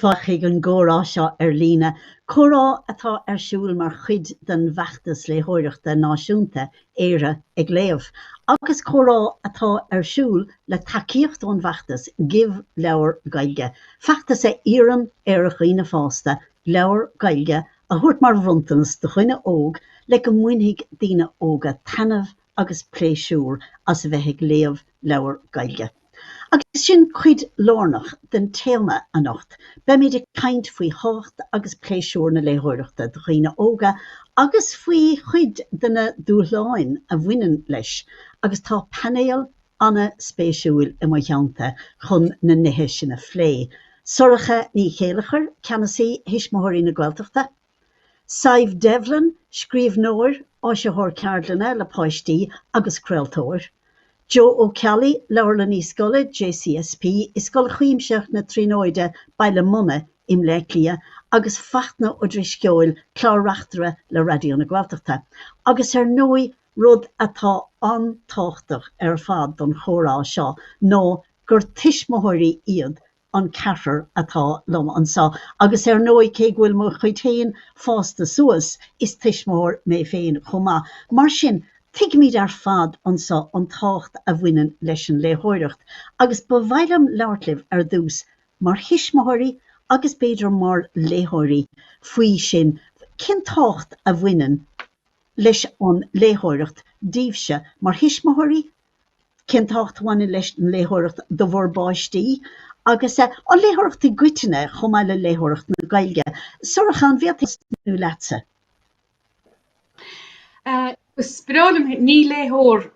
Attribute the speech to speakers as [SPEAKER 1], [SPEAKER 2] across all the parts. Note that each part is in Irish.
[SPEAKER 1] Fáilte chuig an gcomhrá seo ar líne, comhrá atá ar siúl mar chuid den bhfeachtas léitheoireachta náisiúnta, Éire ag Léamh, agus comhrá atá ar siúl le tacaíocht ón bhfeachtas Give Leabhar Gaeilge, feachtas a iarrann ar dhaoine fásta leabhar Gaeilge a thabhairt mar bhronntanas do dhuine óg le go mbainfidh daoine óga taitneamh agus pléisiúr as a bheith ag léamh leabhar Gaeilge. Agus sin cuid lárnach den téama anocht, beimid ag caint faoi thábhacht agus pléisiúr na léitheoireachta do dhaoine óga agus faoi chuid de na dúshláin a bhaineann leis agus tá painéal ana-spéisiúil i mo theannta chun na nithe sin a phlé, Sorcha Ní Chéilleachair, Ceannasaí Thuismitheoirí na Gaeltachta, Sadhbh Devlin, scríbhneoir, áisitheoir ceardlanna le páistí agus craoltóir, Joe Ó Ceallaigh, Leabharlannaí Scoile JCSP i Scoil Chuimsitheach na Tríonóide, Baile Munna i mBleá Cliath, agus Fachtna Ó Drisceoil, Clár-Reachtaire le Raidió na Gaeltachta, agus ar ndóigh rud atá an-tábhachtach ar fad don chomhrá seo ná gur tuismitheoirí iad an ceathrar atá liom anso, agus ar ndóigh, cé go bhfuil mo chuid féin fásta suas, is tuismitheoir mé féin chomh maith. Mar sin, tuigimid ar fad anso an tábhacht a bhaineann leis an léitheoireacht, agus ba mhaith liom labhairt libh ar dtús, mar thuismitheoirí agus b'fhéidir mar léitheoirí, faoi sin, cén tábhacht a bhaineann leis an léitheoireacht daoibhse mar thuismitheoirí, cén tábhacht a bhaineann leis an léitheoireacht do bhur bpáistí agus an léitheoireacht i gcoitinne chomh maith le léitheoireacht na Gaeilge? Sorcha, an bhféadfainn tosnú leatsa? Is breá liom, ní léitheoir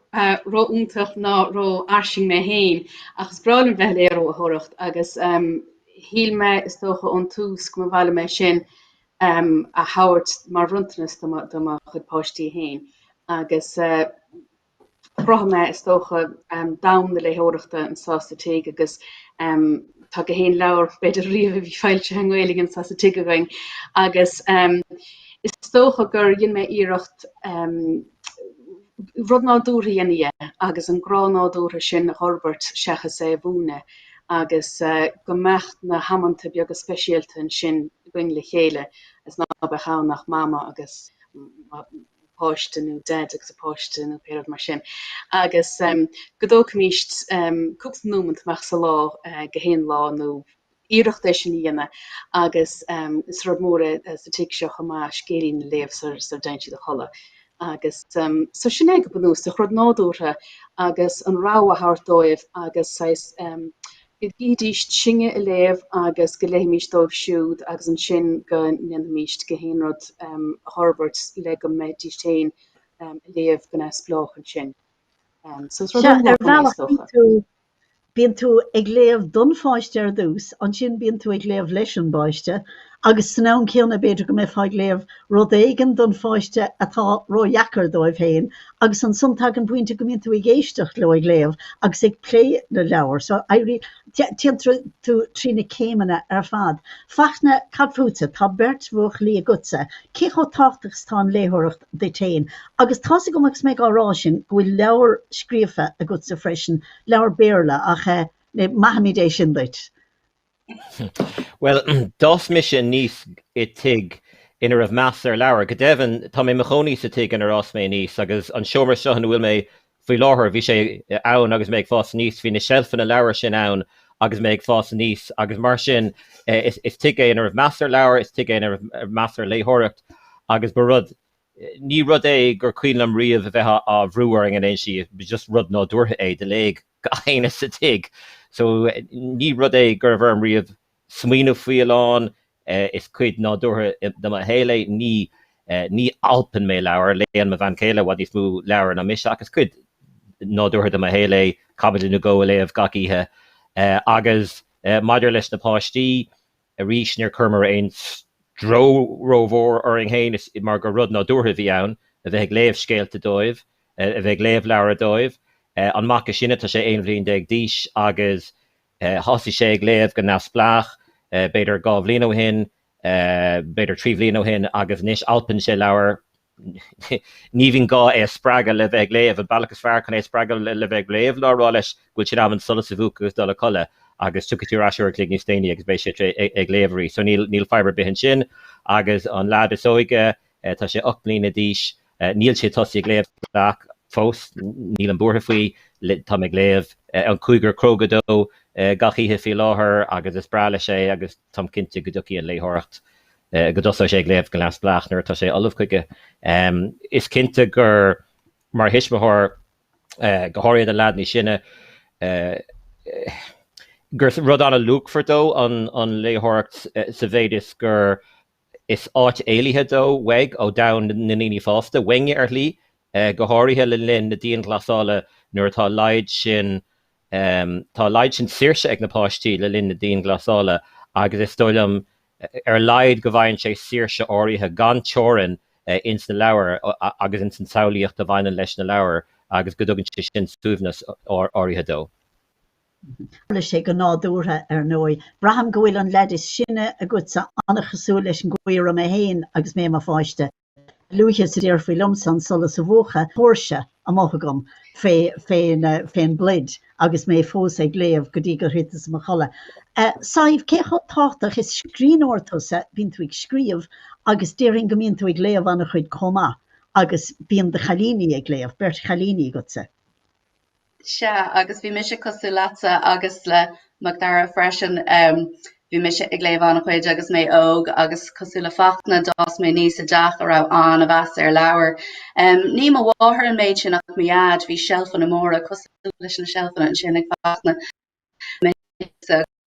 [SPEAKER 1] ró-iontach ná ró-fhairsing mé féin, ach is breá liom bheith ag léitheoireacht agus shíl mé, is dócha, ón tús go mba mhaith liom é sin a thabhairt mar bhronntanas do mo chuid páistí féin agus chruthaigh mé, is dócha, domhan na léitheoireachta anseo sa tigh agus tá go haon leabhar, b'fhéidir, riamh a bhí foilsithe i nGaeilge anseo sa tigh againn agus is dócha gur dhein mé iarracht rud nádúrtha a dhéanamh de agus an grá nádúrtha sin a fhorbairt seachas é a mhúineadh agus go mbeadh na hamanta beaga speisialta ansin againn le chéile agus ná beadh ann ach Mama agus páiste nó deaid agus a páiste nó pé rud mar sin. Agus go dtógfaimís cúpla nóimeant amach sa lá go haon lá nó iarracht é sin a dhéanamh agus is rud mór é sa tigh seo chomh maith scéilín a léamh sara dtéann siad a chodladh. Agus so sin é go bunúsach, rud nádúrtha agus an rogha a thabhairt dóibh agus saghas Bídís in ann a léamh agus go léifimís dóibh siúd agus ansin go ndéanfaimís go léir an rud a fhorbairt le go mbeidís féin ag léamh go neamhspleách ansin. So is rud uathúil é, is dócha. Sea, ar bhealach, bíonn tú, bíonn tú ag léamh don pháiste ar dtús, ansin bíonn tú ag léamh leis an bpáiste Agus ag an am céanna b'fhéidir go mbeifeá ag léamh rud éigin don pháiste atá ródheacair dóibh féin agus ansan tagann pointe go mbíonn tú ag éisteacht leo ag léamh agus ag plé na leabhar so éiríonn, téann tú trí na céimeanna ar fad. Fachtna, cad fútsa? Tá beirt bhuachaillí agatsa, cé chomh tábhachtach is atá an léitheoireacht duit féin? Agus tá's agam agus mé á rá sin go bhfuil leabhair scríofa agatsa freisin, leabhair Béarla ach eh, maithfimid é sin duit. Bhuel, d'fhás mise aníos i tigh ina raibh meas ar leabhair. Go deimhin, tá mé i mo chónaí sa tigh inar fhás mé aníos agus an seomra seo ina bhfuil mé faoi láthair, bhí sé ann agus mé ag fás aníos, bhí na seilfeanna leabhar sin ann agus mé ag fás aníos agus mar sin is is tigh é ina raibh meas ar leabhair, is tigh é ina raibh meas ar léitheoireacht agus ba rud, ní rud é gur cuimhin liom riamh a bheith á bhrú orainn in aon slí, just rud nádúrtha é, do léigh. gach éinne sa tigh so ní rud é go raibh orm riamh smaoineamh faoi a lán, is cuid nádúrtha de mo shaol é, ní ní alpann mé leabhair, léann mo bhean chéile i bhfad níos mó leabhair ná mise ach is cuid nádúrtha de mo shaol é caibidil nó dhó a léamh gach oíche. Agus maidir leis na páistí, Arís, níor chuireamar aon stró rómhór orainn féin mar gur rud nádúrtha a bhí ann a bheith ag léamh scéalta dóibh, a bheith ag léamh leabhar dóibh. An mac is sine, tá sé aon bhliain déag d'aois agus thosaigh sé ag léamh go neamhspleách, b'fhéidir dhá bhliain ó shin, b'fhéidir trí bhliain ó shin agus anois alpann sé leabhair. ní bhíonn gá é a spreagadh le bheith ag léamh, an bealach is fearr chun é a spreagadh le bheith ag léamh ná a rá leis go bhfuil sé in am an solas a mhúchadh agus dul a chodladh agus tiocfaidh tú ar ais uair a chloig níos déanaí agus beidh sé ag léamh arís. So níl, níl fadhb ar bith ansin agus an lad is óige, eh, tá sé 8 mbliana d'aois, eh, níl sé tosaithe ag léamh fós, nílim buartha faoi táim ag léamh eh, an cúigear cróga dó eh, gach oíche faoi láthair agus is breá leis é agus táim cinnte go dtiocfaidh an léitheoireacht go dtosóidh sé ag léamh go neamhspleách nuair atá sé ullamh chuige. Is cinnte gur mar thuismitheoir, go háirithe don leaid is sine, gur rud an-luachmhar dó an léitheoireacht sa mhéid is gur is áit éalaithe dó uaidh, ó dhomhan na ndaoine fásta, uainne ar shlí, go háirithe le linn na dianghlasála nuair atá a laghad sin, tá a laghad sin saoirse ag na páistí le linn na dianghlasála agus is dóigh liom ar a laghad go bhfaigheann sé saoirse áirithe gan teorainn ins na leabhair agus ins an tsamhlaíocht a bhaineann leis na leabhair agus go dtugann sé sin suaimhneas áirithe dó. Tharla sé go nádúrtha, ar ndóigh. Braithim go bhfuil an leaid is sine agatsa, tá sé an-chosúil leis an gcaoi a raibh mé féin agus mé i mo pháiste. a luaithe is a déarfaí liomsa an solas a mhúchadh, tóirse amuigh agam fén bpluid agus mé fós ag léamh go dtí gur thiteas i mo chodladh. Sadhbh, cé chomh tábhachtach is scríbhneoir tusa? Bíonn tú ag scríobh agus déarfainn go mbíonn tú ag léamh an-chuid chomh maith agus bíonn do chailíní ag léamh, beirt chailíní agatsa. Sea, agus bhí mise cosúil leatsa agus le Macdara freisin, bhí mise ag léamh an-chuid agus mé óg agus cosúil le Fachtna d'fhás mé aníos i dteach a raibh ana-mheas ar leabhair. Ní mo mháthair an méid sin ach mo dhaid, bhí seilfeanna móra cosúil leis na seilfeanna ansin ag Fachtna, mé aníos agus.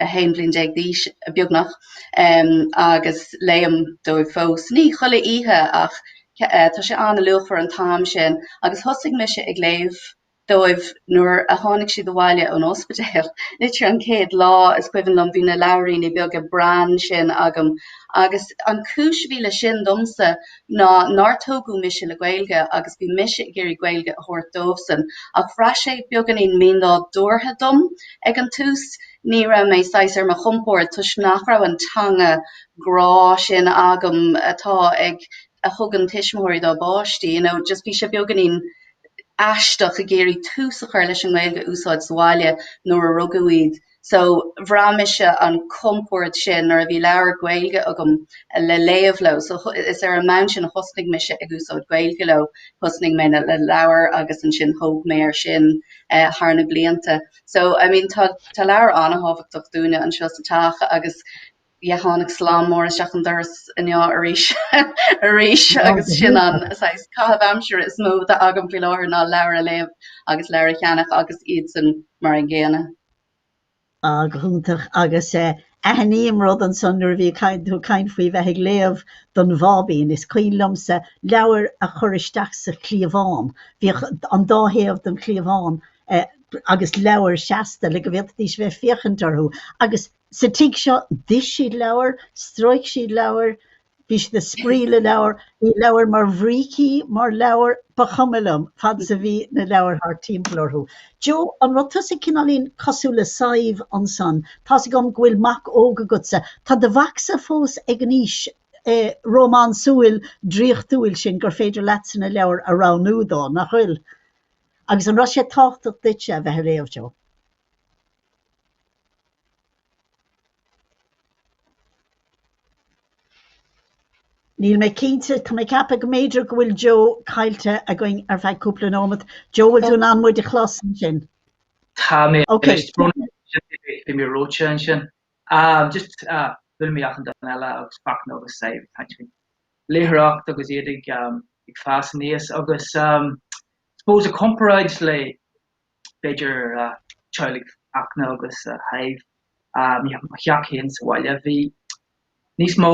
[SPEAKER 1] 11 bhliain d'aois beagnach agus léim dóibh fós. Ní chuile oíche ach tá sé an-luachmhar an t-am sin agus thosaigh mise ag léamh dóibh nuair a tháinig siad abhaile ón ospidéal. Literally an chéad lá, is cuimhin liom, bhí na leabhairíní beaga Bran sin agam agus an chúis a bhí leis sin domsa ná nár tógadh mise le Gaeilge agus bhí mise ag iarraidh Gaeilge a thabhairt dóibhsan ach bhraith sé beagáinín mínádúrtha dom ag an tús, ní raibh mé saghas ar mo chompord toisc nach raibh an teanga grá sin agam atá ag, a thugann tuismitheoirí dá bpáistí, you know, just bhí sé beagáinín aisteach ag iarraidh tús a chur leis an nGaeilge a úsáid sa bhaile nuair a rugadh iad. So, bhraith mise an compord sin nuair a bhí leabhar Gaeilge agam le léamh leo. So, is ar an mbonn sin a thosnaigh mise ag úsáid Gaeilge leo. Thosnaigh mé le leabhair agus ansin thóg mé air sin thar na blianta. So, I mean, tá leabhair an-thábhachtach dúinne anseo sa teach agus, ba, tháinig slám mór isteach an doras inniu arís agus sin an saghas caitheamh aimsire is mó atá agam faoi láthair ná leabhair a léamh agus leabhair a cheannach agus iadsan mar an gcéanna. Ah, go hiontach, agus aithním rud ansan nuair a bhí tú ag caint faoi bheith ag léamh don bháibín, is cuimhin liomsa leabhair a chur isteach sa chliabhán, bhíodh an dá thaobh den chliabhán agus leabhair seasta le go bhféadfaidís a bheith ag féachaint orthu agus Sa tigh seo, d'ith siad leabhair, stróic siad leabhair, bhí siad ag spraoi le leabhair, bhí leabhair mar bhrící, mar leabhair, ba chuma liom, fad is a bhí na leabhair thart timpeall orthu. Joe, an raibh tusa cineáilín cosúil le Sadhbh ansan? Tá's agam go bhfuil mac óg agatsa, tá do mhacsa fós ag an aois rómánsúil draíochtúil sin gur féidir leatsa na leabhair a roghnú dó, nach bhfuil? Agus an raibh sé tábhachtach duitse a bheith ag léamh, Joe? Níl mé cinnte, tá mé ag ceapadh go mb'fhéidir go bhfuil Joe caillte againn ar feadh cúpla nóimeat. Joe, bhfuil tú in ann muid a chlos ansin? Tá mé, anois bhí mé reoite ansin. Just chuala mé achan duine eile agus Fachtna agus Sadhbh ag caint faoin léitheoireacht agus iad ag fás aníos agus I suppose i gcomparáid le b'fhéidir teaghlaigh Fhachtna agus Shadhbh, i mo theach féin sa bhaile. Bhí níos mó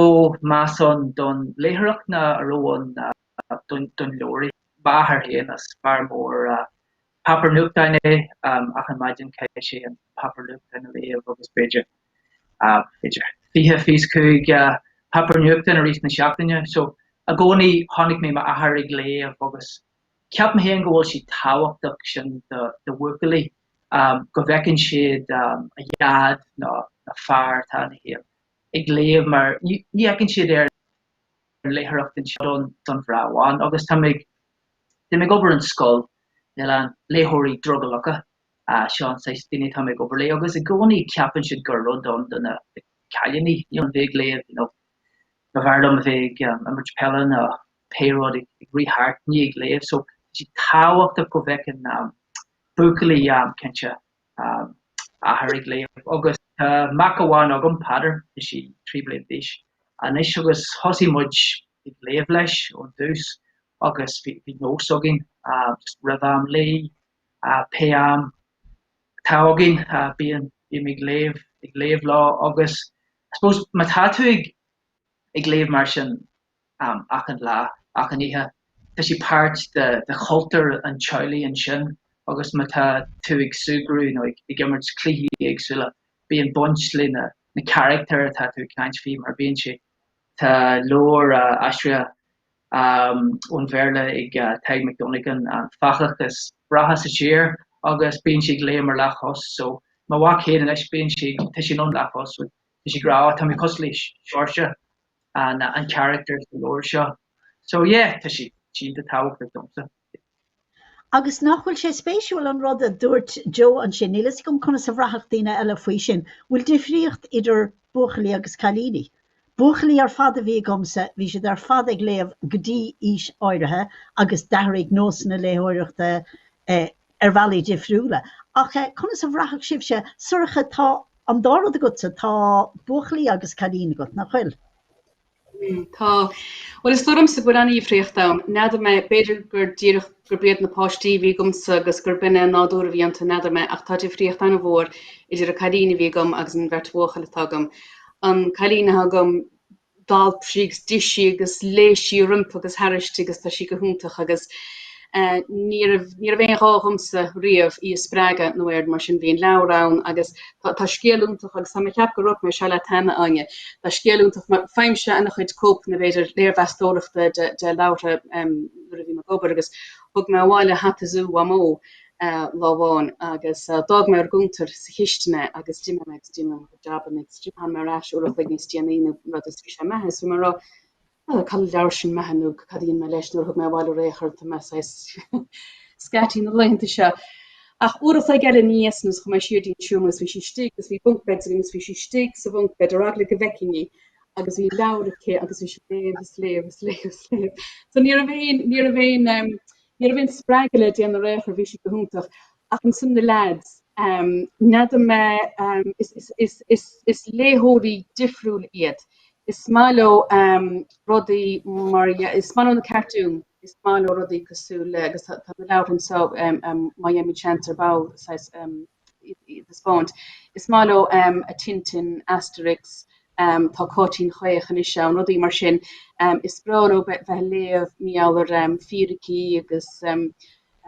[SPEAKER 1] meas ann don léitheoireacht ná a raibh ann don leabhar. M'athair féin, is fear mór páipéar nuachtáin é, achan maidin chaith sé an páipéar nuachtáin a léamh agus b'fhéidir b'fhéidir fiche, fiche cúig páipéar nuachtáin i rith na seachtaine. So i gcónaí chonaic mé m'athair ag léamh agus Ceapaim féin go bhfuil sé tábhachtach sin do bhuachaillí, go bhfeiceann siad a ndaid nó fear atá ina thaobh ag léamh mar ní fheiceann siad é ar léitheoireacht do mhná amháin. Agus táim ag táim ag obair in scoil lena léitheoirí drogallacha, seo an saghas daoine atáim ag obair léi agus i gcónaí ceapann siad gur rud é do na cailíní, you know, bheith ag léamh, you know, go bhfearr liom a bheith ag imirt peile nó. pé rud ag rith thart, ní ag léamh, so tá sé tábhachtach go bhfeiceann buachaillí, cinnte, a athair ag léamh agus tá mac amháin agam, Peadar, tá sé trí bliana d'aois anois agus thosaigh muid ag léamh leis ón dtús agus bhí nós againn just roimh am luí, pé am atá againn, bím ag léamh, ag léamh leis agus I suppose má tá tú ag léamh mar sin, achan lá, achan oíche. Tá sé páirt de chultúr an teaghlaigh ansin agus má tá tú ag súgradh nó ag imirt cluichí éagsúla, bíonn baint le na carachtair atá tú ag caint faoi mar bíonn sé. Tá leabhar aistrithe ón Bhéarla ag Tadhg Mac Dhonnagáin, An Fathach is Breátha sa Tír, agus bíonn sé ag léim ar leathchos. So, mo mhac féin anois, bíonn sé, tá sé ar an leathchos, tá sé ag rá, tá mé cosúil le Seoirse. an charachtar sa leabhar seo. So yeah, tá sé iontach tábhachtach domsa. Agus nach bhfuil sé spéisiúil an rud a dúirt Joe ansin, níl a fhios agam conas a bhraithfeadh daoine eile faoi sin, bhfuil difríocht idir buachaillí agus cailíní? Buachaillí ar fad a bhí agamsa, bhí siad ar fad ag léamh go dtí aois áirithe agus d'athraigh nósanna léitheoireachta eh, ar bhealaí difriúla. Ach conas a bhraithfeadh sibhse, Sorcha, tá an dá rud agatsa, tá buachaillí agus cailín agat, nach bhfuil? Mm, tá. Bhuel, is dóigh liomsa go bhfuil an-difríocht ann. N'fheadar mé, b'fhéidir gur díreach gurb iad na páistí a bhí agamsa agus gurb in é an nádúr a bhí iontu, n'fheadar mé, ach tá difríocht an-mhór idir an cailín a bhí agam agus an bheirt bhuachaill atá agam. An cailín atá agam, d'alp sí agus d'ith sí agus léigh sí roimpi agus thairsti agus tá sí go hiontach agus ní raibh ní raibh aon ghá dhomsa riamh í a spreagadh nó aon rud mar sin. Bhí an leabhar ann agus tá tá scéal iontach agus tá mé ag ceapadh go ndúirt mé seo leat cheana, a Áine. Tá scéal iontach mar faighim sé ana chuid cóipeanna b'fhéidir léirmheastóireachta de de leabhartha nuair a bhím ag obair agus thug mé abhaile Hata Zú Mhamó lá amháin agus d'fhág mé ar an gcuntar sa chistin é agus d'imigh mé agus d'imigh mé. job an next job. Tháinig mé ar ais uair a chloig níos déanaí nó rud is bhí sé imithe. Is bhí mé ag rá, ah, cá bhfuil an leabhar sin imithe nó cad a dhein mé leis? Nó ar thug mé abhaile ar aon chor tá mé saghas scatty na laethanta seo. Ach uair a chloig eile aníos nó is chuaigh mé siar go dtí an seomra agus bhí sí istigh agus bhí bunk beds againn agus bhí sí istigh sa bhunk bed ar eagla go bhfeicfinn í agus bhí leabhar aici agus bhí sí ag léamh is léamh is léamh is léamh. So ní raibh aon ní raibh aon ní raibh aon spreagadh le déanamh ar aon chor bhí sí go hiontach. ach ansin na leaids. N'fheadar mé, is léitheoirí difriúla iad. Is maith leo rudaí mar, is maith leo na cartúin, is maith leo rudaí cosúil le, agus tá na leabhair anseo, má bhíonn chance ar ball, saghas, iad a thaispeáint. Is maith leo Tintin, Asterix, tá Cáitín Chaoch anois ann, rudaí mar sin. Is breá leo bheith ag léamh mar gheall ar fíricí agus.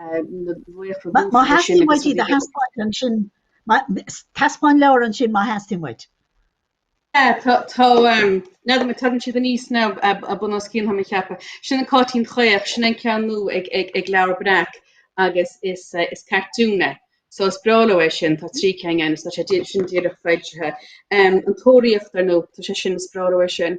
[SPEAKER 1] Má theastaíonn uait iad a thaispeáint ansin, taispeáin leabhar ansin má theastaíonn uait. N'fheadar mé an dtagann siad aníos nó bunoscionn, tá mé ag ceapadh. Sin an Cáitín Chaoch, sin é an ceann nua ag Leabhar Breac agus is cartún é. So is breá leo é sin, tá trí ceann ann, is tá sé, sin díreach foilsithe. An Tóraíocht, ar ndóigh, tá sé sin, is breá leo é sin.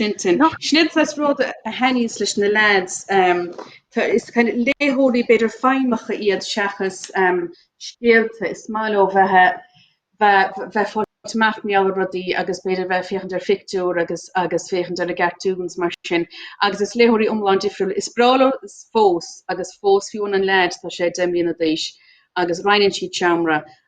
[SPEAKER 1] Tintin. Sin saghas rud a thaitníos leis na leaids. Is léitheoirí, b'fhéidir, feidhmeacha iad seachas scéalta. Is maith leo bheith ag fáilt amach mar gheall ar rudaí agus b'fhéidir bheith ag féachaint ar phictiúir agus féachaint ar na cartoons mar sin. Agus is léitheoirí iomlán difriúil. Is breá leo fós agus fós, fiú an an leaid, tá sé deich mbliana d'aois agus roinneann siad seomra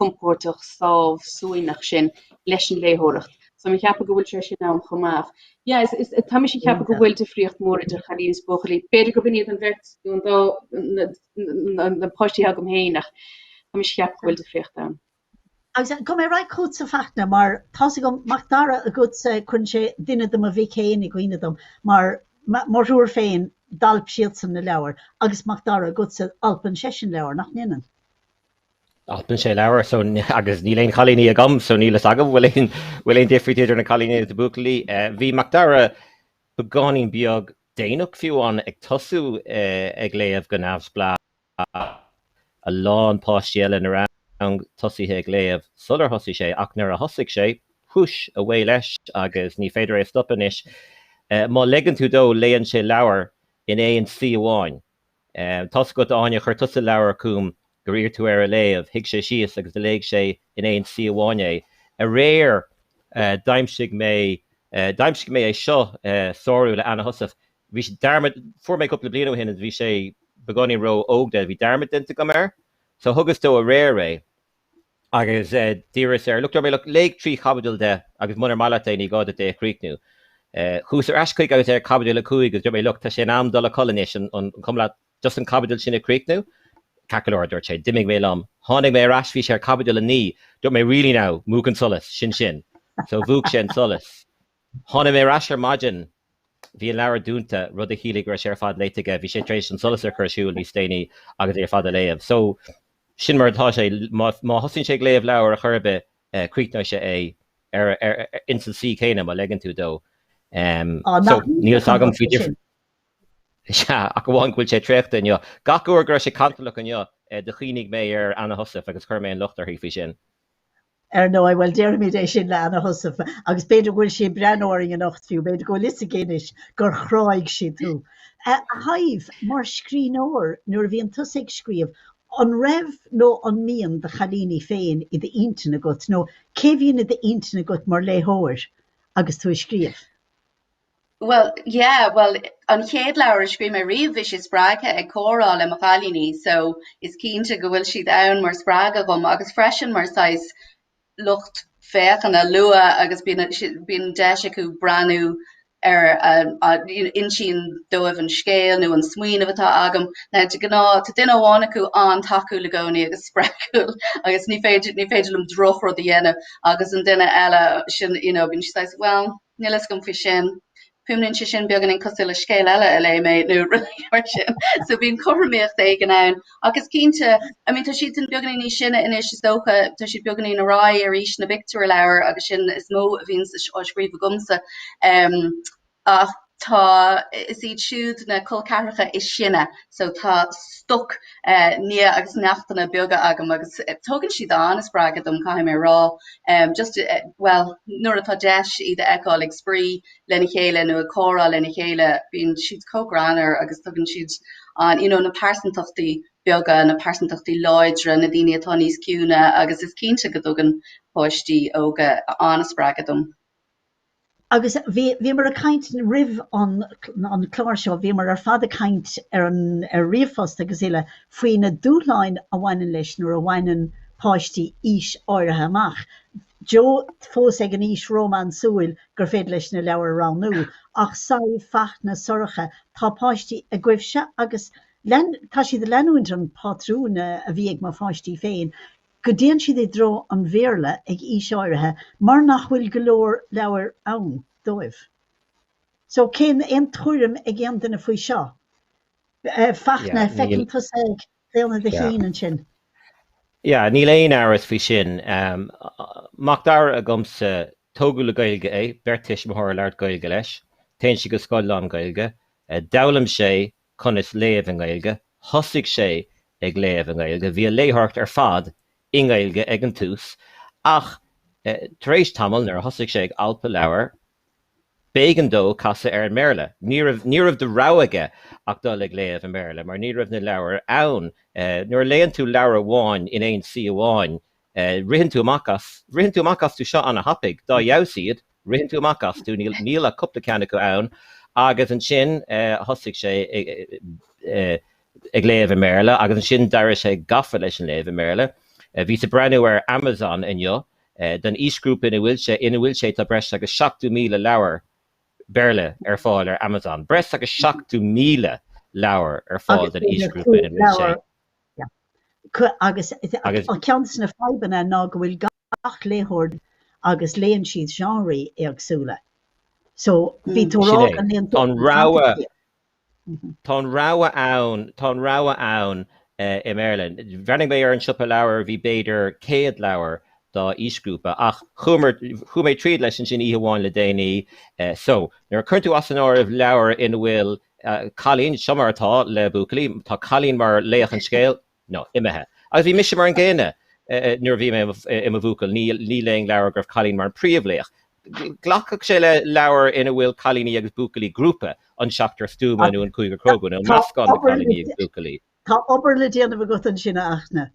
[SPEAKER 1] compordach sámhshuaimhneach sin leis an léitheoireacht. So mé ag ceapadh go bhfuil sé sin ann chomh maith. Yeah, is, is, tá mise ag ceapadh go Iontach. bhfuil difríocht mhór idir chailíní is buachaillí. B'fhéidir gurb in iad an bheirt, nó an dá, na, na, na páistí agam féin ach tá mise ag ceapadh go bhfuil difríocht ann. Agus eh, go mbeidh an rud agatsa a Fhachtna, mar tá's agam Mac Dara agatsa eh, cuireann sé duine de mo mhic fhéin i gcuimhne dom, mar ma, mo thriúr féin, d'alp siadsan na leabhair, agus Mac Dara agatsa alpann seisean leabhair, nach ndéanann? Alpann sé leabhair so agus níl aon chailíní agam so níl fhios agam bhfuil aon bhfuil aon difríocht idir na cailíní agus na buachaillí. Bhí Macdara beagáinín beag déanach fiú ann ag tosú ag léamh go neamhspleách. A lán páistí eile ina rang tosaithe ag léamh sular thosaigh sé ach nuair a thosaigh sé, whoosh, away leis agus ní féidir é a stopadh anois. Má leigeann tú dó léann sé leabhar in aon suí amháin. Tá's agat, a Áine, chuir tusa leabhar chugam gur iarr tú air a léamh. Shuigh sé síos agus do léigh sé in aon suí amháin é. Aréir, d'aimsigh mé, d'aimsigh mé é seo, Sárú, le Anna Heussaff. Bhí sé, dearmad, fuair mé cúpla bliain ó shin agus bhí sé beagáinín ró-óg dó, bhí dearmad déanta agam air. So, thugas dó aréir é. Agus d'iarras air, Look, dúirt mé, look, léigh trí chaibidil de agus munar maith leat é, ní gá duit é a chríochnú. Chuas ar ais chuige agus é ar chaibidil a cúig agus dúirt mé, Look, tá sé in am dul a chodladh anois, an cuma leat just an chaibidil sin a chríochnú? Ceart go leor, a dúirt sé. D'imigh mé liom. Tháinig mé ar ais, bhí sé ar chaibidil a naoi. Dúirt mé, Really now, múch an solas, sin sin. So mhúch sé an solas. Tháinig mé ar ais ar maidin. Bhí an leabhar dúnta, rud a chiallaigh go raibh sé ar fad léite aige. Bhí sé tar éis an solas a chur ar siúl níos déanaí agus é ar fad a léamh. So, sin mar atá sé. Má thosaíonn sé ag léamh leabhair ar chor ar bith, críochnóidh sé é ar, ar, ins an suí céanna, má leigeann tú dó. Em, Á, so, níl a fhios agam faoi sin. difr, sea, ach amháin go bhfuil sé traochta inniu. Gach uair go raibh sé cantalach inniu, eh, do chuimhnigh mé ar Anna Heussaff agus chuir mé an locht uirthi faoi sin. Ar ndóigh, bhuel, déarfaimid é sin le Anna Heussaff, agus b'fhéidir go bhfuil sí ag breathnú orainn anocht fiú, b'fhéidir go bhfuil 'fhios aici anois gur chráigh sí tú. A Shadhbh, mar scríbhneoir, nuair a bhíonn tusa ag scríobh, an raibh nó an mbíonn do chailíní féin i d'intinn agat, nó cé bhíonn i d'intinn agat mar léitheoir agus tú ag scríobh? Bhuel, yeah, bhuel, an chéad leabhar a scríobh mé riamh, bhí sé spreagtha ag comhrá le mo chailíní, so is cinnte go bhfuil siad ann mar spreagadh dhom agus freisin mar saghas lucht féachana luath agus bíonn a, si, bíonn deis acu breathnú ar a, a, you know, insím dóibh an scéal nó an smaoineamh atá agam. Now de gnáth tá duine amháin acu an-tacúil i gcónaí agus spreagúil agus ní féidir ní féidir liom drochrud a dhéanamh agus an duine eile sin you know, bíonn siad saghas, well, Níl fhios agam faoi sin. Fuaimníonn sé sin beagáinín cosúil le scéal eile a léigh mé nó rud mar sin. So bíonn cothromaíocht éigin ann. Ach is cinnte, I mean tá siad sin beagáinín níos sine anois is dócha, tá siad beagáinín ró-aosta d'aois na bpictiúrleabhar agus sin is mó a bhíonn á scríobh agamsa. Ach tá, is iad siúd na col ceathracha is sine so tá stoc nia agus neachtanna beaga agam agus tugann siad an-spreagadh dom caithfidh mé a rá. Em just eh bhuel nuair atá deis iad a fheiceáil ag spraoi lena chéile nó ag comhrá lena chéile bíonn siad chomh greannar agus tugann siad an you know na pearsantachtaí beaga, na pearsantachtaí láidre, na daoine atá níos ciúine agus is cinnte go dtugann páistí óga an-spreagadh dom. Agus bhí, bhíomar ag caint roimh an, an clár seo, bhíomar ar fad ag caint ar an, ar ríomhphost agus uile, faoi na dúshláin a bhaineann leis nuair a bhaineann páistí aois áirithe amach. Joe fós ag an aois rómánsúil gur féidir leis na leabhair a roghnú, ach Sadhbh, Fachtna, Sorcha, tá páistí agaibhse agus lean, tá siad ag leanúint an phatrúin a bhí ag mo pháistí féin. go dtéann siad i dtreo an Bhéarla ag aois áirithe mar nach bhfuil go leor leabhair ann dóibh. So, bhfuil aon tuairim ag aon duine faoi seo? Fachtna, feicim tusa ag claonadh do chinn ansin. Yeah, níl aon amhras faoi sin. Macdara agamsa, tógadh le Gaeilge é, beirt tuismitheoir ag labhairt Gaeilge leis, téann sé go scoil lán-Ghaeilge, d'fhoghlaim sé conas léamh i nGaeilge, thosaigh sé ag léamh i nGaeilge, bhí a léitheoireacht ar fad i nGaeilge ag an tús ach tar éis tamaill nuair a thosaigh sé ag alpadh leabhar b'éigean dó casadh ar an mBéarla. Ní raibh de rogha aige ach dul ag léamh i mBéarla mar ní raibh na leabhair ann. Nuair a léann tú leabhar amháin in aon suí amháin Eh, ritheann tú amach as, ritheann tú amach astu seo ana-thapaidh, dá fheabhas iad, ritheann tú amach astu, níl, níl ach cupla ceann acu ann. Agus ansin, eh, thosaigh sé i- i- eh, ag léamh i mBéarla agus ansin d'éirigh sé gafa leis an léamh i mBéarla. Eh, bhíos ag breathnú ar Amazon inniu, eh, don aoisghrúpa ina bhfuil sé, ina bhfuil sé tá breis agus seachtó míle leabhar Béarla ar fáil ar Amazon. Breis agus seachtó míle leabhar ar fáil don aoisghrúpa ina bhfuil sé. Agus ceann de na fadhbanna ná go bhfuil gach léitheoir agus léann siad seánraí éagsúla. So, bhí tú ag rá tá an rogha ann, tá an rogha ann i mBéarla. Bhreathnaigh mé ar an siopa leabhar, bhí b'fhéidir céad leabhar dá aoisghrúpa, ach chuaigh mé tríd leis ansin oíche amháin le déanaí. So, nuair a chuireann tú as an áireamh leabhair ina bhfuil cailín, seo mar atá le buachaillí, tá cailín mar laoch an scéil, nó, imithe. Agus bhí mise mar an gcéanna nuair a bhí mé i mo bhuachaill, ní léinn leabhar go raibh cailín mar an príomhlaoch. Glacfaidh sé le leabhar ina bhfuil cailíní agus buachaillí, grúpa, an Seachtar Stuama nó an Cúigear Cróga, nó meascán de chailíní agus buachaillí. Tá obair le déanamh agat ansin, a Fhachtna.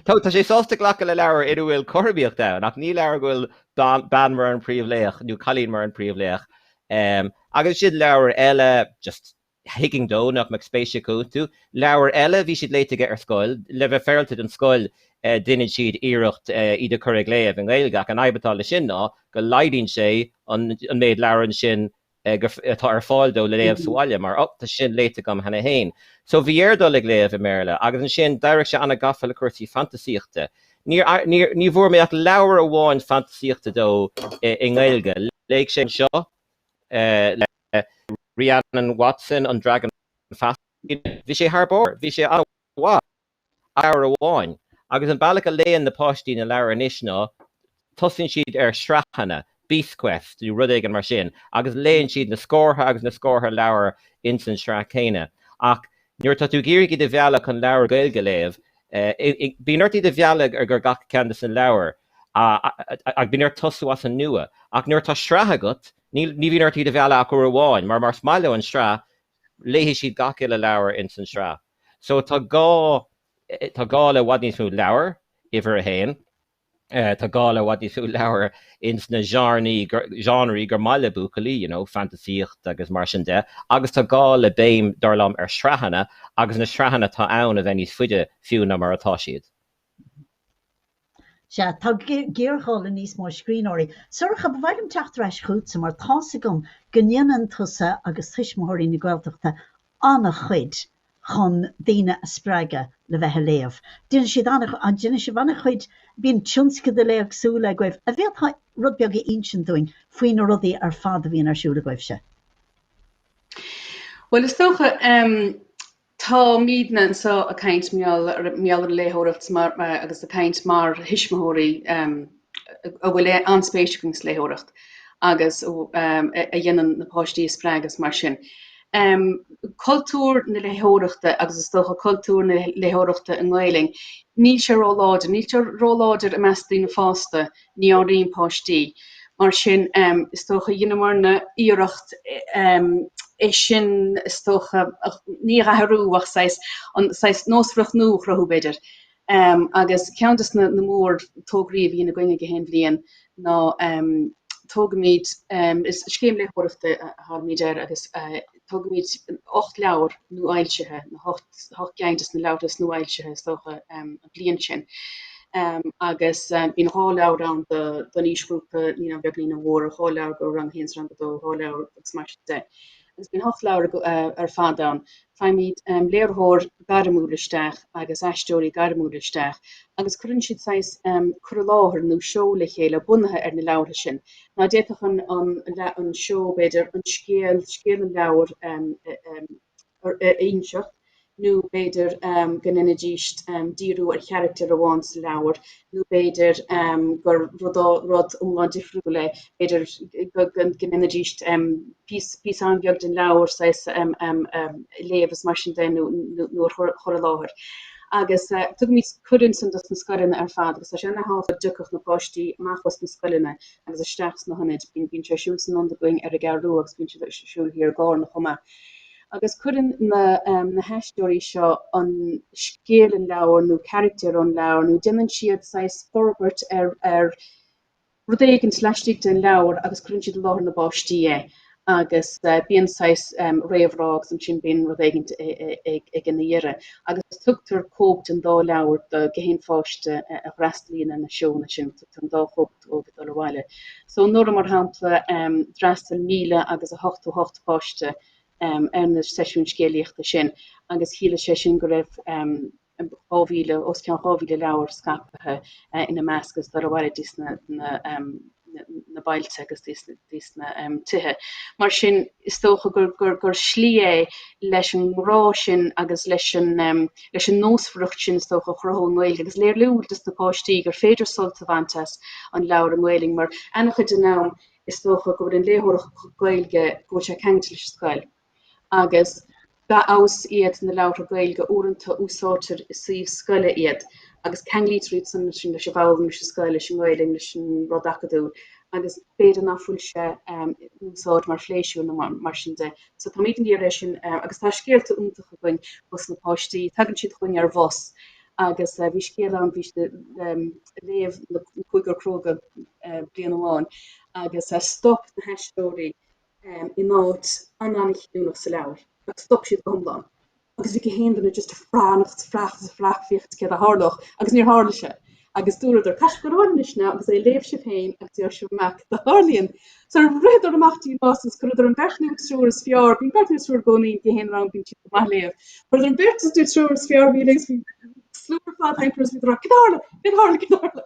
[SPEAKER 1] Tá sé sásta glacadh le leabhar ina bhfuil cothromaíocht ann, ach ní leabhar go bhfuil bean mar an príomhlaoch nó cailín mar an príomhlaoch. Agus sin leabhar eile, just thuigfinn dó nach mbeadh spéis acu iontu. Leabhair eile, bhí siad léite aige ar scoil. Le bheith féarailte don scoil, déanann siad iarracht iad a chur ag léamh i nGaeilge, ach an fhadhb atá leis sin ná go laghdaíonn sé an méid leabhar ansin atá ar fáil dó le léamh sa bhaile, mar ó tá sé sin léite agam cheana féin. So bhí air dul ag léamh i mBéarla, agus ansin d'éirigh sé an-ghafa le cúrsaí fantasaíochta. Ní bhfuair mé ach leabhar amháin fantasaíochta dó i nGaeilge. Léigh sé é seo le Rhiannon Watson an Dragan Feasa. Bhí sé thar barr, bhí sé an-mhaith, ach leabhar amháin. Agus an bealach a léann na páistí na leabhair anois ná, tosaíonn siad ar shraitheanna, Beast Quest nó rud éigin mar sin, agus léann siad na scórtha agus na scórtha leabhar ins an tsraith céanna. Ach nuair atá tú ag iarraidh iad a mhealladh chun leabhair Ghaeilge a léamh, bíonn ort iad a mhealladh ar gach ceann de na leabhair, agus bíonn ort tosnú as an nua. Ach nuair atá sraith agat, Ní, ní bhíonn ort iad a mhealladh ach uair amháin, mar más maith leo an sraith, léifidh siad gach uile leabhar ins an sraith. So tá gá, tá gá le i bhfad níos mó leabhar, uimhir a haon. Tá gá le i bhfad níos mó leabhar ins na genre, genreí gur maith le buachaillí, you know, fantasaíocht agus mar sin de. Agus tá gá le béim, dar liom, ar shraitheanna, agus na sraitheanna atá ann a bheith níos faide fiú ná mar atá siad. Sea, tá géarghá le níos mó scríbhneoirí. Sorcha, ba mhaith liom teacht ar ais chugatsa mar tá's agam go ndéanann tusa agus Tuismitheoirí na Gaeltachta an-chuid chun daoine a spreagadh le bheith ag léamh. Déanann siad an-chuid, déanann sibh an-chuid, bíonn tionscadail éagsúla agaibh. An bhféadfá rud beag a insint dúinn faoi na rudaí ar fad a bhíonn ar siúl agaibhse? Bhuel, is dócha, Tá muidne anseo ag caint mar gheall ar an léitheoireacht agus ag caint mar thuismitheoirí a bhfuil an-spéis againn sa léitheoireacht agus a dhéanann na páistí a spreagadh agus mar sin. Cultúr na léitheoireachta agus is dócha cultúr na léitheoireachta i nGaelainn, níl sé róláidir, níl sé róláidir i measc daoine fásta Ní ón Roinn páistí. Mar sin, is dócha, dheineamar ana iarracht é sin, is dócha, ní é a athrú ach saghas, an, saghas nósmhaireacht nua a chruthú, b'fhéidir. Agus ceann dos na mórthograí a bhíonn againn gach aon bhliain ná, tugaimid, is scéim léitheoireachta a thugaimid air agus, Tugaimid ocht leabhar nuafhoilsithe, na hocht gceann dos na leabhartha is nuafhoilsithe, is dócha, an bhliain sin. Agus bíonn dhá leabhar ann don aoisghrúpa naíonáin bheaga, naíonáin mhóra, dhá leabhar do rang a haon is rang a dó, dhá leabhar agus mar sin de. Agus bíonn ocht leabhar ar fad ann. Faighimid léiritheoir gairmiúil isteach agus aisteoirí gairmiúla isteach agus cuireann siad saghas cur i láthair nó seó le chéile bunaithe ar na leabhartha sin Now d'fhéadfadh an an seó, b'fhéidir, an scéal, scéal an leabhair a inseacht, nó b'fhéidir go ndéanfaidís díriú ar charachtar amháin sa leabhar, nó b'fhéidir gur rud iomlán difriúil é, b'fhéidir go ndéanfaidís píosa an-bheag den leabhar, saghas, a léamh is mar sin de, nó a chur i láthair. agus tugaimid cuireadh ansin dos na scoileanna ar fad agus tá sé an-tábhachtach go dtiocfadh na páistí amach os na scoileanna agus isteach sna hionaid, bíonn sé ar siúl san ionad againn ar an gCeathrú Rua agus bíonn siad ar siúl thiar i gCárna chomh maith. Agus cuireann na um, na haisteoirí seo an scéal ón leabhar nó carachtar ón leabhar nó deineann siad saghas forbairt ar, ar rud éigint laistigh den leabhar agus cuireann siad i láthair na bpáistí é agus bíonn saghas réamhrá agus ansin bíonn rud éigint ag ina dheireadh agus tugtar cóip den dá leabhar do gach aon pháiste a fhreastalaíonn ar na seónna sin, tugtar an dá chóip dóibh ag dul abhaile. So anuraidh, mar shampla, d'fhreastail míle agus a hochtó hocht páiste ar na seisiúin scéalaíochta sin agus chiallaigh sé sin go raibh. os cionn 2,000 leabhar scaipthe, ina measc agus dul abhaile dtí sna bailte agus dtí sna tithe. Mar sin, is dócha gur slí é leis an ngrá sin agus leis an nósmhaireacht sin, is dócha, a chruthú i nGaeilge agus léiriú dos na páistí gur féidir sult a bhaint as an leabhar i nGaelainn, mar, an-chuid den am, is dócha go bhfuil an léitheoireacht Ghaeilge, go bhfuil sé ceangailte leis an scoil. agus dá fheabhas iad na leabhartha Gaeilge, uaireanta úsáidtear i suíomh scoile iad agus ceanglaítear iad san leis an bhfoghlaim, leis an scoil, leis an nGaelainn, leis an rud acadúil agus b'fhéidir ná fuil sé in úsáid mar phléisiúr nó mar sin de. So táimid a d'iarraidh é sin agus tá scéalta iontacha againn ós na páistí, tagann siad chugainn ar bhus agus bhí scéal ann bhí léamh An Cúigear Cróga bliain amháin agus stop na haisteoirí i nóiméad ana-chinniúnach sa leabhar, agus stop siad go hiomlán, agus bhí gach aon duine just ag breathnú, ag féach, ag féach, féachaint céard a tharlódh, agus níor tharla sé, agus dúradar, caithfidh sibh a ghabháil anois, agus é a léamh sibh féin, agus fáil amach cad a tharlaíonn. So ritheadar amach díomá, agus chuireadar an beirt nó an triúr is fearr, bíonn beirt nó an triúr i gcónaí in aon rang, bíonn siad go maith ag léamh, chuireadar an beirt nó an triúr is fearr, bhí, agus bhí slua ar fad, hampers, bhíodar á, cad a tharla, cad a tharla, cad a tharla?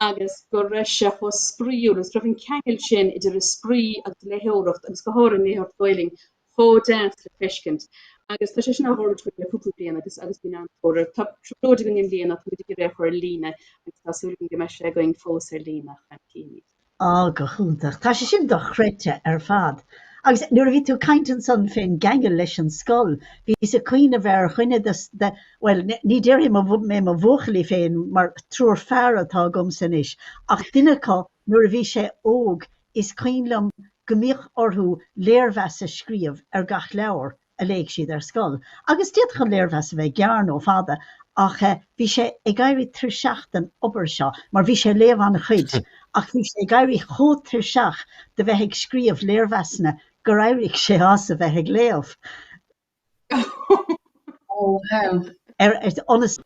[SPEAKER 1] agus go raibh sé chomh spraíúil agus go raibh an ceangal sin idir an spraoi agus an léitheoireacht, agus go háirithe an léitheoireacht Ghaelainn, chomh deas le feiscint. Agus tá sé sin á dhéanamh againn le cúpla bliain agus agus bíonn an-tóir air. Tá trioblóid againn i mbliana, tá muid ag iarraidh é a chur ar líne agus tá súil againn go mbeidh sé againn fós ar líne ach níl mé cinnte. Ó, go hiontach. Tá sé sin dochreidte ar fad. Agus nuair a bhí tú ag caint ansan fén gceangal leis an scoil, bhíos ag cuimhneamh ar dhuine de bhuel, ní déarfaidh mé mo bhuachaillí féin mar triúr fear atá agamsa anois, ach duine acu nuair a bhí sé óg is cuimhin liom go mbíodh orthu léirmheas a scríobh ar gach leabhar a léadh siad ar scoil agus d'fhéadfadh an léirmheas a bheith gearr nó fada ach bhí sé ag éirí tuirseach den obair seo mar bhí sé ag léamh an-chuid ach bhí sé ag éirí chomh tuirseach de bheith ag scríobh léirmheasanna gur éirigh sé as a bheith ag léamh. Oh, help. Ar fad as a bheith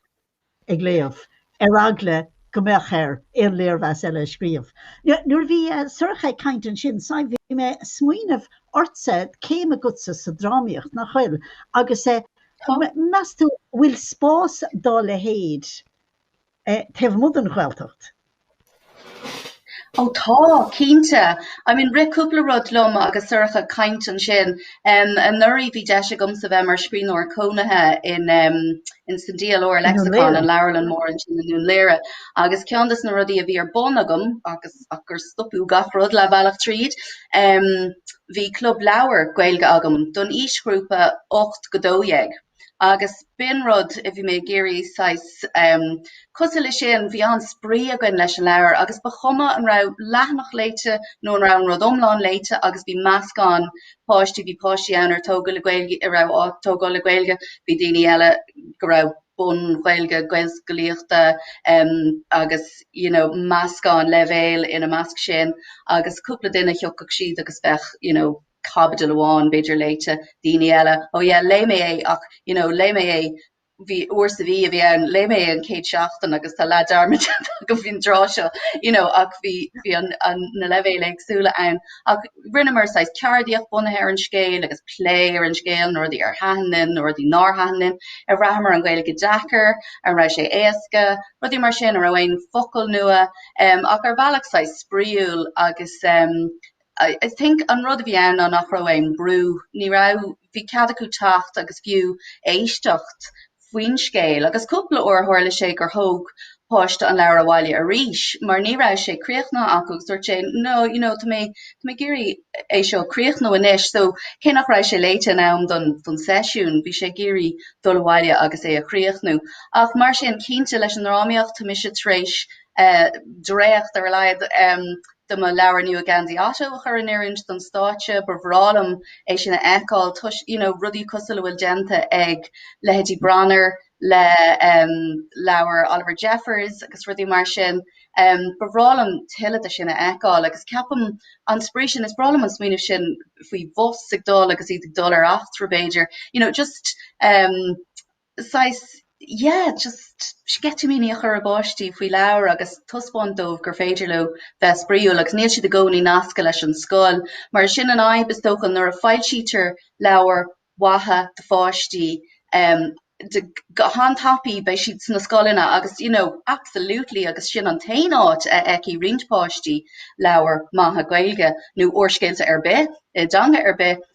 [SPEAKER 1] ag léamh, ar eagla go mbeadh air aon léirmheas eile a scríobh. Nuair a bhí Sorcha ag caint ansin, Sadhbh, bhí mé ag smaoineamh ortsa, céim agatsa sa drámaíocht, nach bhfuil? Agus Tá. meas tú an bhfuil spás dá leithéid? taobh amuigh den Ghaeltacht? Ó tá, cinnte. I mean rith cúpla rud liom agus Sorcha ag caint ansin. Anuraidh bhí deis agamsa bheith mar scríbhneoir cónaithe in in san DLR Lexicon an leabharlann mór ansin in Dún Laoghaire agus ceann dos na rudaí a bhí ar bun agam agus ach gur stopadh gach rud leath bealach tríd bhí club leabhar Gaeilge agam don aoisghrúpa 8 go 12 agus b'in rud a bhí mé ag iarraidh saghas, em, cosúil le sin, bhí an-spraoi againn leis an leabhar agus ba chuma an raibh leathanach léite nó an raibh an rud iomlán léite agus bhí meascán páistí, bhí páistí ann ar tógadh le Gaeilge, a raibh á tógáil le Gaeilge, bhí daoine eile go raibh bun-Ghaeilge, Gaelscolaíochta, em, agus, you know, meascán leibhéal ina measc sin agus cúpla duine, thiocfadh siad agus bheadh, you know, caibidil amháin, b'fhéidir, léite, daoine eile, oh yeah, léigh mé é ach, you know, léigh mé é, b'í uair sa mhí a bhí ann, léigh mé é an chéad seachtain agus tá leath dearmad déanta agam faoin dtráth seo, you know, ach bhí, bhí an, an, na leibhéil éagsúla ann. Ach rinneamar saghas ceardaíocht bunaithe ar an scéal agus plé ar an scéal, na rudaí a thaitin linn, na rudaí nár thaitin linn, ar bhraitheamar an Ghaeilge deacair, an raibh sé éasca, rudaí mar sin, an raibh aon focal nua, em, ach ar bhealach saghas spraíúil agus, em, I think an rud a bhí ann ná nach raibh aon brú, ní raibh, bhí cead acu teacht agus fiú éisteacht faoin scéal agus cúpla uair tharla sé gur thóg páiste an leabhar abhaile arís mar ní raibh sé críochnaithe acu agus dúirt sé no, you know, tá mé, tá mé ag iarraidh é seo a chríochnú anois so cé nach raibh sé léite in am don, don seisiún, bhí sé ag iarraidh dul abhaile agus é a chríochnú. Ach mar sin, cinnte leis an ndrámaíocht, tá mise tar éis eh dréacht ar a laghad, em, de mo leabhar nua An Gheansaí Ottó a chur in oiriúint don stáitse, ba bhreá liom é sin a fheiceáil toisc, you know, rudaí cosúil le a bhfuil déanta ag leithéidí Branar le um leabhair Oliver Jeffers agus rudaí mar sin, um ba bhreá liom tuilleadh de sin a fheiceáil agus ceapaim an spraoi sin, is breá liom an smaoineamh sin faoi bhus ag dul agus iad ag dul ar eachtra b'fhéidir, you know, just um saghas, yeah, just sceitimíní a chur i bpáistí faoi leabhair agus taispeáint dóibh gur féidir leo bheith spraíúil agus níl siad i gcónaí nasctha leis an scoil. Mar sin í an fhadhb, is dócha, nuair a fhoilsítear leabhair mhaithe do pháistí, em, de, go han-tapaí beidh siad sna scoileanna agus, you know, absolutely agus sin an t-aon áit a fheicfidh roinnt páistí leabhair maithe Gaeilge nó úrscéalta ar bith, i dteanga ar bith.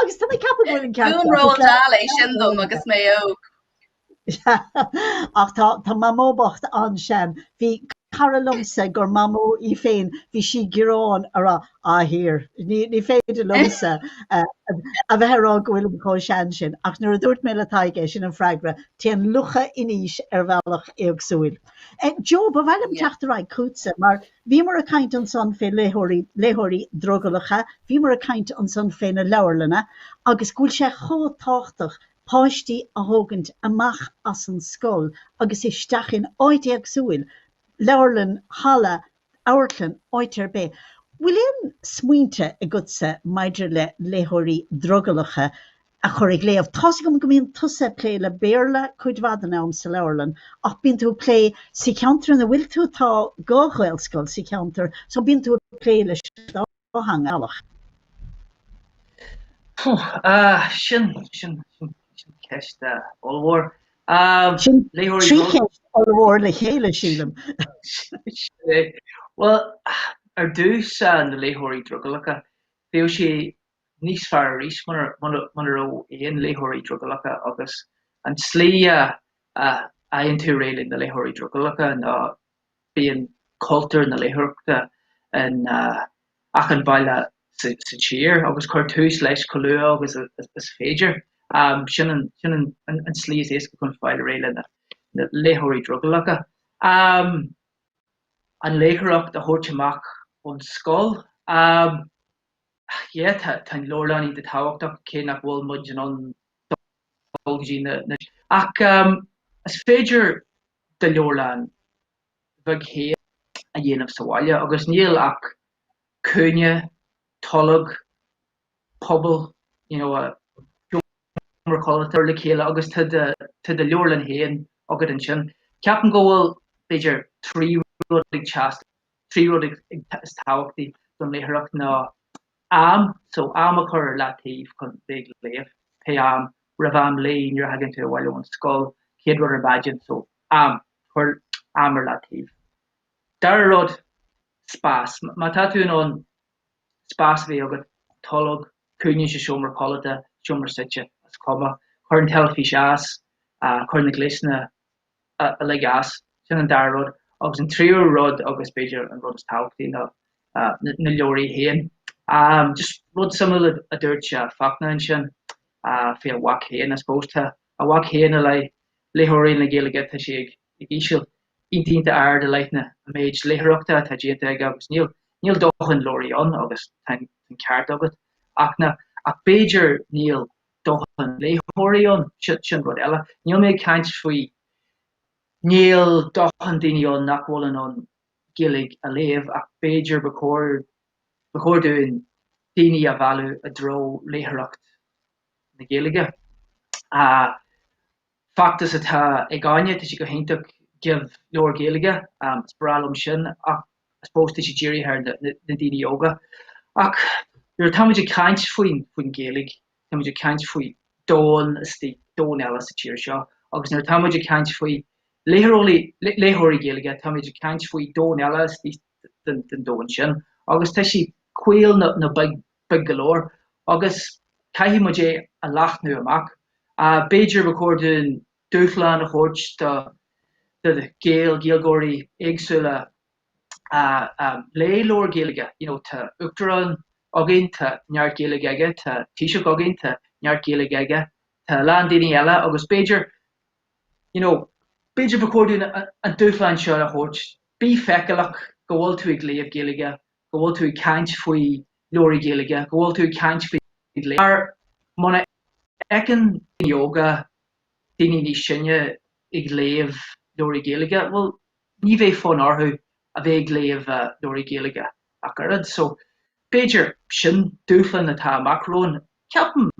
[SPEAKER 1] agus tá mé ag ceapadh go bhfuil an ceart Rinne Roald Dahl é sin dom agus mé óg. ach tá tá Mamó bhocht an-sean bhí cara liomsa gur mamó í féin bhí sí ag gearán ag rá á ní ní féidir leatsa a bheith ag rá go bhfuil mé chomh sean sin ach nuair a dúirt mé le Tadhg é sin an freagra téann lucha in aois ar bhealach éagsúil. Joe ba mhaith liom teacht ar aghaidh chugatsa mar Bhíomar ag caint ansan fé léitheoirí, léitheoirí drogallacha, bhíomar ag caint ansan fé na leabharlanna agus go bhfuil sé chomh tábhachtach páistí a thógaint amach as an scoil agus isteach in áit éagsúil, leabharlann, halla, amharclann, áit ar bith. Bhfuil aon smaointe agatsa maidir le léitheoirí drogallacha? a chur ag léamh. Tá's agam go mbíonn tusa ag plé le Béarla cuid mhaith den am sa leabharlann ach bíonn tú ag plé sa cheantar ina bhfuil tú, tá dhá ghaelscoil sa cheantar so bíonn tú ag plé leis an dá theanga ar bhealach. Sin ceist ollmhór. Sin trí cheist ollmhór le chéile, sílim. Sin é. Bhuel, ar dtús, na léitheoirí drogallacha, bheadh sé níos fearr arís muna raibh aon léitheoirí drogallacha agus an tslí a fhaigheann tú réidh le na léitheoirí drogallacha ná bíonn cultúr na léitheoireachta in achan bhaile sa tír agus cuir tús leis chomh luath agus is féidir. Sin an tslí is éasca chun fáil réidh le na léitheoirí drogallacha, an léitheoireacht a thabhairt amach ón scoil. Ach yeah, tá an leabharlann iontach tábhachtach, cé nach bhfuil muid in ann dul go dtí na, ach is féidir do leabharlann bheag féin a dhéanamh sa bhaile agus níl ach cúinne, tolg, puball, you know, seomra codlata le chéile agus tá do, tá do leabharlann féin agat ansin. Ceapaim go bhfuil b'fhéidir trí rud ag teastáil. Trí rud is tábhachtaí don léitheoireacht ná am, so am a chur ar leataobh chun bheith ag léamh, pé am, roimh am luí, nuair a thagann tú abhaile ón scoil, chéad rud ar maidin, so am, cuir am ar leataobh. Dara rud, spás. Má tá tú in ann spás a bheith agat, tolg, cúinne sa seomra codlata, seomra suite, is cuma. Cuir an teilifís as, cuir na gléasanna uilig as. Sin an dara rud. Agus an tríú rud, agus b'fhéidir an rud is tábhachtaí, ná na leabhraí féin. Just rud suimiúil a dúirt Fachtna ansin faoina mhac féin, I suppose. Tá a mhac féin i leith léitheoirí na Gaeilge, tá sé ag íseal, iontach, iontach ard i leith na méid léitheoireachta atá déanta aige agus níl, níl dóthain leabhraí ann agus tá an ceart agat, a Fhachtna. Ach b'fhéidir níl. dóthain léitheoirí ann, sin rud eile. Níl mé ag caint faoi, níl dóthain daoine ann nach bhfuil in ann Gaeilge a léamh ach b'fhéidir ba chóir, ba chóir dúinn daoine a mhealladh i dtreo léitheoireacht na Gaeilge. feachtas atá againne, tá sé go hiontach Give Leabhar Gaeilge, is breá liom sin ach I suppose tá sé dírithe ar na daoine óga. Ach nuair atá muid ag caint faoin Ghaeilge, tá muid ag caint faoi domhan istigh, domhan eile sa tír seo agus nuair atá muid ag caint faoi léitheoirí Gaeilge, tá muid ag caint faoi domhan eile istigh den domhan sin agus tá sé caol nó beag beag go leor, agus caithfidh muid é a leathnú amach. B'fhéidir ba chóir dúinn dúshlán a thabhairt do Ghaeil, Gaeilgeoirí éagsúla léigh leabhar Gaeilge, you know, tá Uachtarán againn, tá neart Gaeilge aige, tá Taoiseach againn, tá neart Gaeilge aige, tá a lán daoine eile agus b'fhéidir, you know, b'fhéidir ba chóir dúinn an dúshlán seo a thabhairt, bí feiceálach go bhfuil tú ag léamh Gaeilge. go bhfuil tú ag caint faoi leabhraí Gaeilge, go bhfuil tú ag caint faoi ghlao. Mar muna fheiceann daoine óga daoine níos sine ag léamh leabhraí Gaeilge, bhuel, ní bheidh fonn orthu a bheith ag léamh leabhraí Gaeilge ach oiread. So, b'fhéidir, sin dúshlan atá amach romhainn. Ceapaim,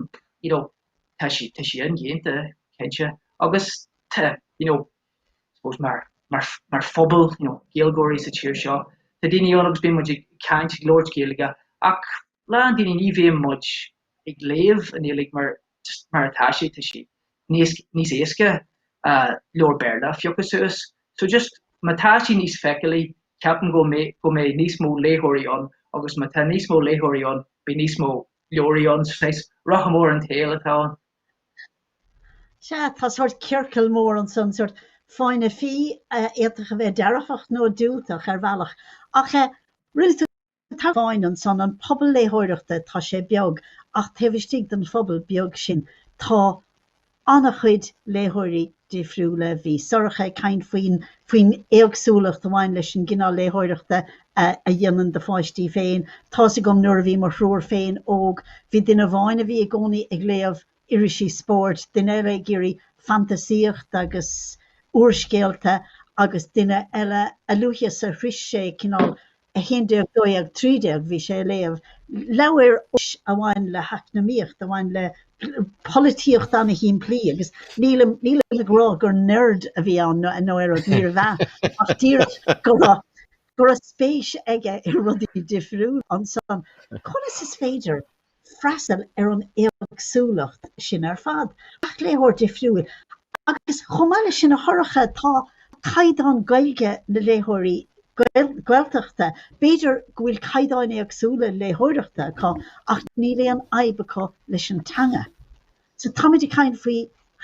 [SPEAKER 1] you know, tá sí indéanta, cinnte, agus tá, you know, I suppose mar, mar, mar phobal, you know, Gaeilgeoirí sa tír seo, tá daoine ann agus bíonn muid ag caint, ag labhairt Gaeilge ach a lán daoine ní bhíonn muid ag léamh an Ghaeilge mar, just mar atá sí, tá sí níos, níos éasca leabhar Béarla a phiocadh suas. So just má tá sí níos feiceálaí ceapaim go mbeidh, go mbeidh níos mó léitheoirí ann agus má tá níos mó léitheoirí ann beidh níos mó leabhraí ann, so I suppose rotha mór an tsaoil atá ann. Sea, tá sórt ciorcal mór ansan, sórt fáinne fí a fhéadfadh a bheith dearfach nó diúltach ar bhealach. Ach rinne tú tagairt amháin ansan, an pobal léitheoireachta, tá sé beag ach taobh istigh den phobal beag sin tá an-chuid léitheoirí. difriúla. Bhí Sorcha ag caint faoin faoin éagsúlacht a bhain leis an gcineál léitheoireachta a dhéanann do pháistí féin. Tá's agam nuair a bhí mo thriúr féin óg, bhí duine amháin a bhí i gcónaí ag léamh irisí spóirt, duine eile ag iarraidh fantasaíocht agus úrscéalta agus duine eile, a luaithe is a shroich sé cineál 11 12 13 bhí sé ag léamh leabhair a bhain le heacnamaíocht, a bhain le polaitíocht an-shimplí agus nílim nílim ag rá gur nerd a bhí ann nó nó aon rud níorbh ea ach díreach go raibh go raibh spéis aige i rudaí difriúla ansan. Conas is féidir freastal ar an éagsúlacht sin ar fad. Gach léitheoir difriúil agus chomh maith leis sin, a Shorcha, tá caighdeán Gaeilge na léitheoirí Gaeltachta, b'fhéidir go bhfuil caighdeáin éagsúla léitheoireachta acu ach níl aon fhadhb acu leis an teanga. So táimid ag caint faoi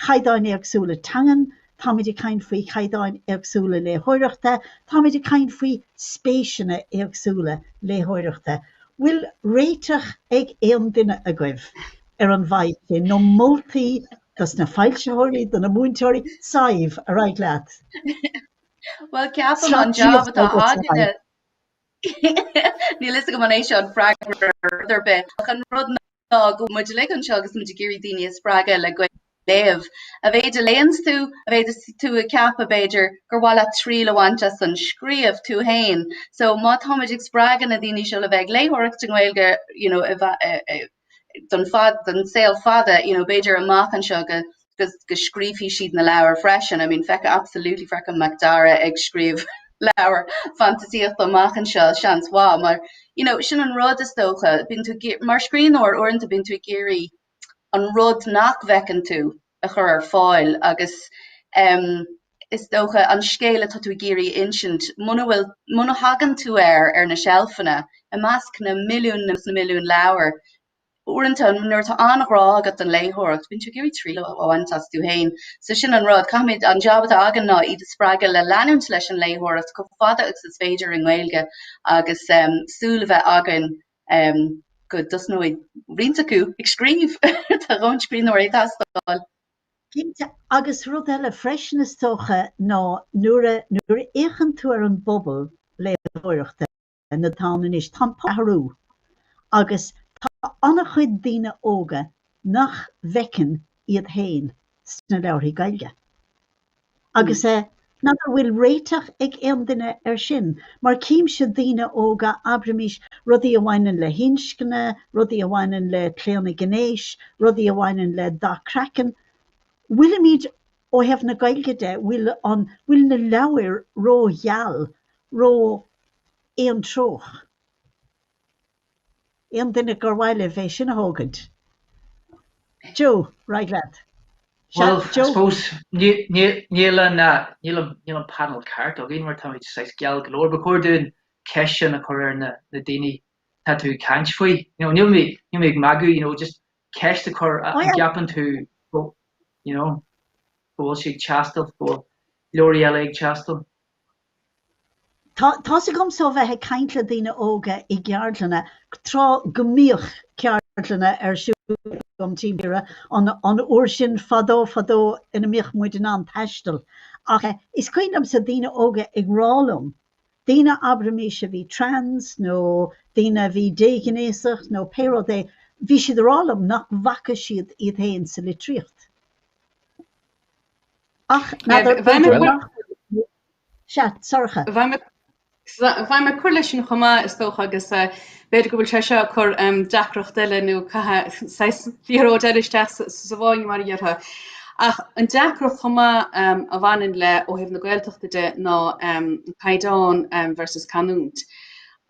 [SPEAKER 1] chaighdeáin éagsúla teangan, táimid ag caint faoi chaighdeáin éagsúla léitheoireachta, táimid ag caint faoi spéiseanna éagsúla léitheoireachta. Bhfuil réiteach ag aon duine agaibh ar an bhfadhb sin, nó moltaí dos na foilsitheoirí, do na múinteoirí? Sadhbh, ar aghaidh leat. Bhuel ceapaim an jab atá áirithe Níl a fhios agam an é seo an freagra ar bith an rud Tá muid uilig anseo agus muid ag iarraidh daoine a spreagadh le gaeilge a léamh. Dá mhéad a léanns tú, dá mhéad is tú ag ceapadh, b'fhéidir, gur mhaith leat triail a bhaint as an scríobh tú féin. So má táimid ag spreagadh na daoine seo le bheith ag léitheoireacht i nGaeilge you know, don saol fada you know, b'fhéidir amach anseo go go scríobfaidh siad na leabhair freisin. I mean feicfidh absolutely feicfidh Macdara ag scríobh leabhar fantaisíochta amach anseo seans mhaith mar you know sin an rud is dócha bíonn tú mar scríbhneoir uaireanta bíonn tú ag iarraidh an rud nach bhfeiceann tú a chur ar fáil agus um, is dócha an scéal atá tú ag iarraidh insint muna bhfuil muna thagann tú air ar na seilfeanna i measc na milliún na milliún leabhar uaireanta nuair atá an-ghrá agat don léitheoireacht, bíonn tú ag iarraidh triail a bhaint as tú fhéin. So sin an rud, caithfimid, an jab atá againn ná iad a spreagadh le leanúint leis an léitheoireacht chomh fada agus is féidir i nGaeilge agus súil a bheith againn go dtosnóidh roinnt acu ag scríobh. Tá a lán scríbhneoirí ag teastáil. Cinnte, agus rud eile freisin is dócha ná nuair a fhéachann tú ar an bpobal léitheoireachta, atá ann anois. Tá an pobal ag athrú agus tá an-chuid daoine óga nach bhfeiceann iad féin sna leabharthaí Gaeilge agus nach bhfuil réiteach ag aon duine air sin. Mar címse daoine óga, abraimís, rudaí a bhaineann le hinscne, rudaí a bhaineann le claonadh gnéis, rudaí a bhaineann le dath craicinn, bhfuilimid Ó thaobh na Gaeilge de, bhfuil an, bhfuil na leabhair ró-gheal, ró-aontreoch? Aon duine gur mhaith libh é sin a thógaint? Joe, ar aghaidh leat. Sea, Joe? Well, I suppose, níl an, níl an, níl an panel ceart againn mar táimid saghas geal go leor. Ba chóir dúinn an cheist sin a chur ar na, na daoine atá tú ag caint faoi. You know, níl mé, níl mé ag magadh, you know, just ceist a chur, an gceapann tú go bhfuil sé ag teastáil, go bhfuil leabharthaí eile ag teastáil? Tá's agamsa ó bheith ag caint le daoine óga i gceardlanna tráth go mbíodh ceardlanna ar siúl agam timpeall na tíre an uair sin fadó fadó ina mbíodh muid in ann taisteal ach is cuimhin liomsa daoine óga ag rá liom daoine, abraimis, a bhí trans nó daoine a bhí déghnéasach nó pé rud é, bhí siad ag rá liom nach bhfaca siad iad féin sa litríocht. Ach n'fheadar, b'fhéidir nach bhfuil. Sea, Sorcha. Bheadh mé ag cur leis sin chomh maith, is dócha, agus B'fhéidir go bhfuil sé seo ag cur deacracht eile nó saghas liathróid eile isteach sa bhfáinne mar a dhéarfá. Ach an deacracht chomh maith a bhaineann le ó thaobh na Gaeltachta de ná caighdeán versus canúint.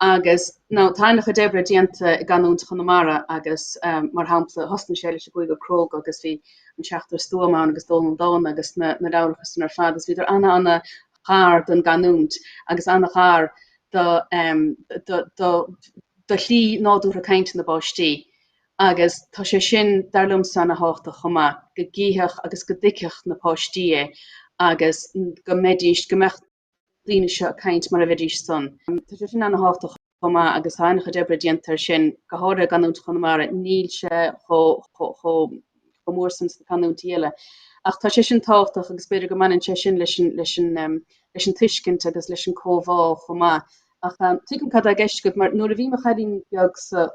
[SPEAKER 1] Agus now tá an-chuid oibre déanta i gcanúint Chonamara agus mar shampla thosnaigh sé leis an gCúigear Cróga agus bhí An Seachtar Stuama ann agus Dónall Dána agus na leabharacha san ar fad agus bhíodar ana ana gar don gcanúint agus an-ghar do slí nádúrtha cainte na bpáistí agus tá sé sin, dar liomsa, ana thábhachtach chomh maith, go gcífeadh agus go dtuigfeadh na páistí é agus go mbeidís, go mbeadh na daoine seo ag caint mar a bheidís-sean. Tá sé sin ana thábhachtach. chomh maith agus tá an-chuid oibre déanta air sin, go háirithe i gcanúint Chonamara, níl sé chomh mór san sna canúintí eile. Ach tá sé sin tábhachtach agus b'fhéidir go mbaineann sé sin leis an tuiscint agus leis an gcomhbhá chomh maith. Ach tuigim cad tá i gceist agat mar nuair a bhí mo chailín beagsa,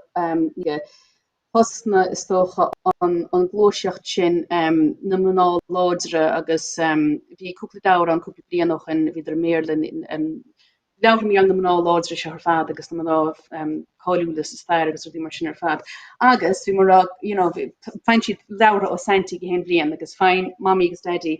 [SPEAKER 1] Thosnaigh, is dócha, an ghluaiseacht sin, na mná láidre, agus bhí cúpla leabhar ann cúpla bliain ó shoin, bhíodar i mBéarla, leabhair mar na mná láidre seo ar fad agus na mná cáiliúla sa stair agus rudaí mar sin ar fad agus bhí mar a, you know, faigheann siad leabhartha ó Saintí gach aon bhliain agus faigheann Mamaí agus Daidí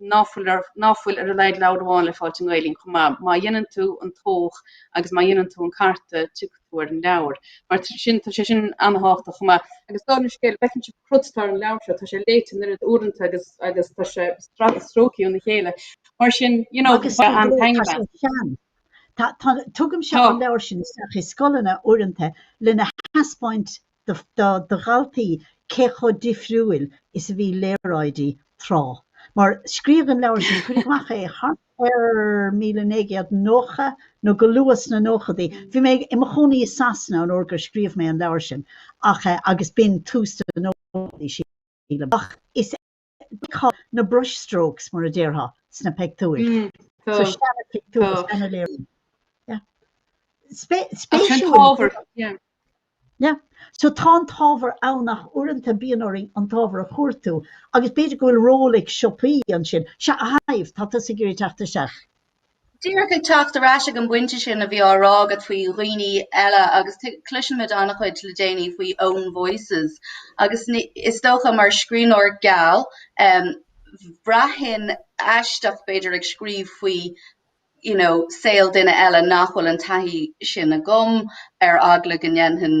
[SPEAKER 1] ná fuil ar, ná fuil ar a laghad leabhar amháin le fáil i nGaelainn chomh maith. Má dhéanann tú an tóch agus má dhéanann tú an carta, tiocfaidh tú ar an leabhar. Mar sin, tá sé sin an-thábhachtach chomh maith. Agus dála an scéil, feiceann sibh an cruth atá ar an leabhar seo, tá sé léite an oiread uaireanta agus tá sé stractha stróicthe óna chéile. Mar sin, you know, tá an tá sé sean. Tá, tá, tugaimse an leabhar sin isteach i scoileanna uaireanta lena thaispeáint do dhaltaí cé chomh difriúil is a bhí léaráidí tráth. Mar scríodh an leabhar sin, cuireadh amach é thart ar míle naoi gcéad nócha nó go luath sna nóchadaí. Bhí mé i mo chónaí i Sasana an uair gur scríobh mé an leabhar sin ach, agus b'in tús na nóchadaí, sílim. Ach is. Tá na brush strokes, mar a déarfá, sna pictiúir. So seana pictiúr, seana léiriú. Yeah. Yeah. So tá an t-ábhar ann ach uaireanta bíonn orainn an t-ábhar a chuartú agus b'fhéidir go bhfuil ról ag siopaí ansin, sea a Shadhbh, tá tusa ag iarraidh teacht isteach. Díreach ag teacht ar ais ag an bpointe sin a bhí á rá agat faoi dhaoine eile agus cloisimid an-chuid le déanaí faoi own voices agus is dócha mar scríbhneoir geal bhraithfinn aisteach b'fhéidir ag scríobh faoi you know saol duine eile nach bhfuil an taithí sin agam ar eagla go ndéanfainn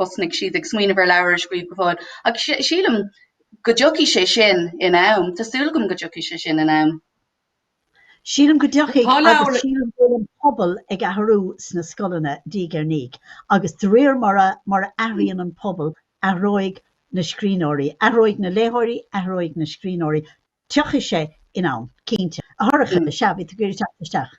[SPEAKER 1] thosnaigh siad ag smaoineamh ar leabhar a scríobh go fóill. Ach sílim go dtiocfaidh sé sin in am, tá súil agam go dtiocfaidh sé sin in am. Sílim go dtiocfaidh agus sílim go bhfuil an pobal ag athrú sna scoileanna, diaidh ar ndiaidh, agus de réir mar a athraíonn an pobal, athróidh na scríbhneoirí, athróidh na léitheoirí, athróidh na scríbhneoirí, tiocfaidh sé in am, cinnte. A Shorcha, sea, bhí tú ag iarraidh teacht isteach.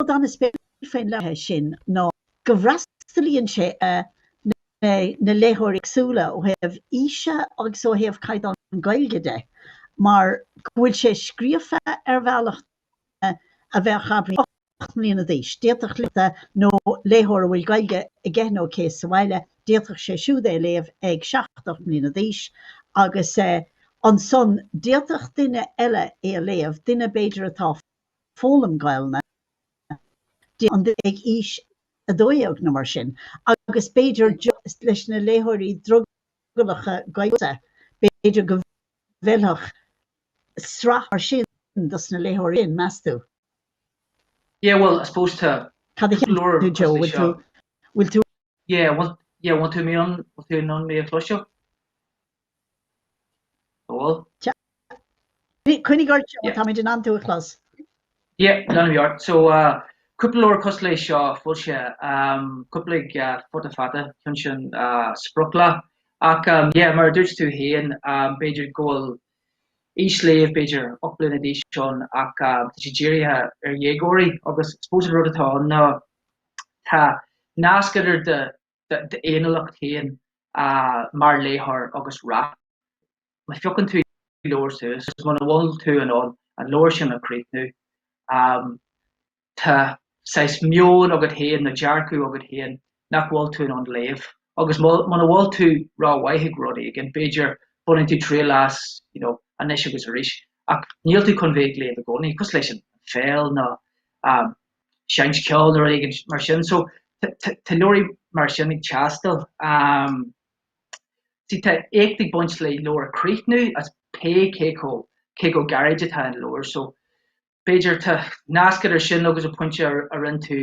[SPEAKER 1] Rud an-spéisiúil faoin leabhar sin ná go bhfreastalaíonn sé ar na léitheoirí éagsúla ó thaobh aoise agus ó thaobh chaighdeán Gaeilge de mar go bhfuil sé scríofa ar bhealach duine a bheadh abair hocht mbliana d'aois, d'fhéadfadh léitheoir a bhfuil Gaeilge aige nó aici sa bhaile, d'fhéadfadh sé siúd é a léamh ag seacht, ocht mbliana d'aois agus ansan d'fhéadfadh duine eile é a léamh, duine b'fhéidir atá ag foghlaim Gaelainne, ag aois a dó dhéag nó mar sin agus b'fhéidir leis na léitheoirí drogallacha Gaeilge, b'fhéidir go bhfeilfeadh sraith mar sin dos na léitheoirí sin, meas tú? Yeah, bhuel, I suppose tá leabhar cosúil leis seo. Cad a cheapann tú Joe, bhfuil tú Yeah, want, yeah, want tú mé an, want tú an mé a chloisteáil? Bhfuil? Coinnigh ort Joe, táimid in ann tú a chlos. Yeah, leanfaidh mé orm. So, uh, cúpla leabhar cosúil leis seo, níl sé, um, casta, uh, fada fada, chun sin uh, sprioc.. Ach, um, yeah, mar a dúirt tú féin, um, b'fhéidir go bhfuil aois léamh b'fhéidir 8 bliana d'aois ann ach um, tá sé dírithe ar dhéagóirí agus suppose an rud atá ann ná Tá nasc idir do fhéiniúlacht féin mar léitheoir agus rath. Má phiocann tú leabhar suas, agus muna bhfuil tú in ann an leabhar sin a chríochnú, tá saghas meoin agat féin, nó dearcadh agat féin, nach bhfuil tú in ann léamh. Agus muna bhfuil tú ró-mhaith ag rud éigin, b'fhéidir, baineann tú triail as, you know, anois agus arís, ach níl tú chun bheith ag léamh i gcónaí. Cosúil leis an pheil, nó, you know. seinnt ceoil nó rud éigin mar sin. So tá leabhraí mar sin ag teastáil. Sea, tá éacht ag baint le leabhar a críochnú is pé cé chomh gairid atá an leabhar. So b'fhéidir tá nasc idir sin agus an pointe a rinne tú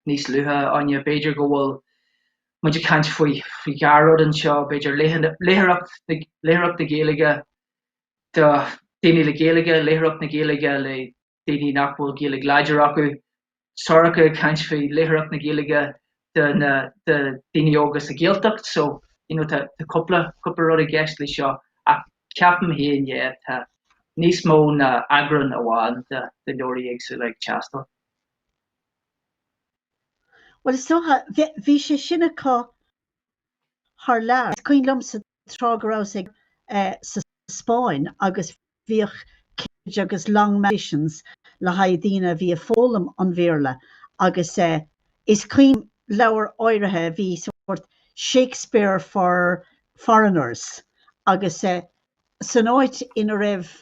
[SPEAKER 1] níos luaithe, Áine, b'fhéidir go bhfuil muid ag caint faoi dhá rud anseo, b'fhéidir litríocht, léitheoireacht na Gaeilge do dhaoine le Gaeilge, léitheoireacht na Gaeilge le daoine nach bhfuil Gaeilge láidir acu. Sorcha ag caint faoi léitheoireacht na Gaeilge do na do daoine óga sa Ghaeltacht so you know tá tá cúpla cúpla rud i gceist leis seo ach ceapaim féin é tá níos mó ná eagrán amháin de de leabhraí éagsúla ag teastáil. Well is dócha bhí sé sin acu thar lear. Is cuimhin liomsa tráth go rabhas-sa sa Spáinn agus bhíodh Collins agus Longman editions le haghaidh daoine a bhí ag foghlaim an Bhéarla agus is cuimhin liom leabhar áirithe a bhí sórt Shakespeare for foreigners agus san áit ina raibh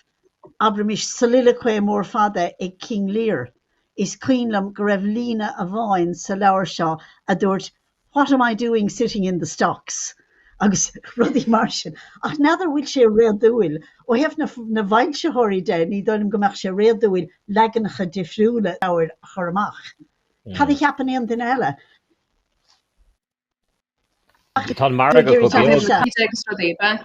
[SPEAKER 1] abraimis soliloquy mór fada ag King Lear is cuimhin liom go raibh líne amháin sa leabhar seo a dúirt What am I doing sitting in the stocks? agus rudaí mar sin. Ach n'fheadar an bhfuil sé réadúil? Ó thaobh na bhfoilsitheoirí de, ní dóigh liom go mbeadh sé réadúil leaganacha difriúla leabhair a chur amach. Cad a cheapann aon duine eile? Ach tá an margadh róbheag.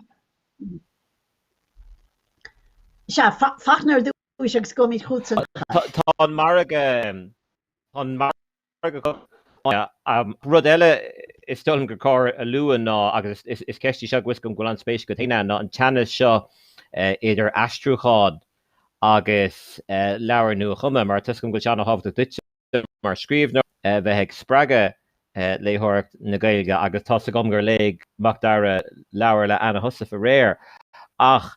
[SPEAKER 1] Sea, fan ar dtúis agus beimid chugat ansan. Tá an margadh Rud eile is dóigh liom gur chóir a lua ná, agus is ceist í seo go bhfuil a fhios agam go bhfuil an-spéis agat féin ann, ná an teannas seo idir aistriúchán agus leabhar nua-chumtha, mar tá 'fhios agam go bhfuil sé an-thábhachtach duitse mar scríbhneoir bheith ag spreagadh léitheoireacht na Gaeilge agus tá 'fhios agam gur léigh Macdara leabhar le Anna Heussaff aréir ach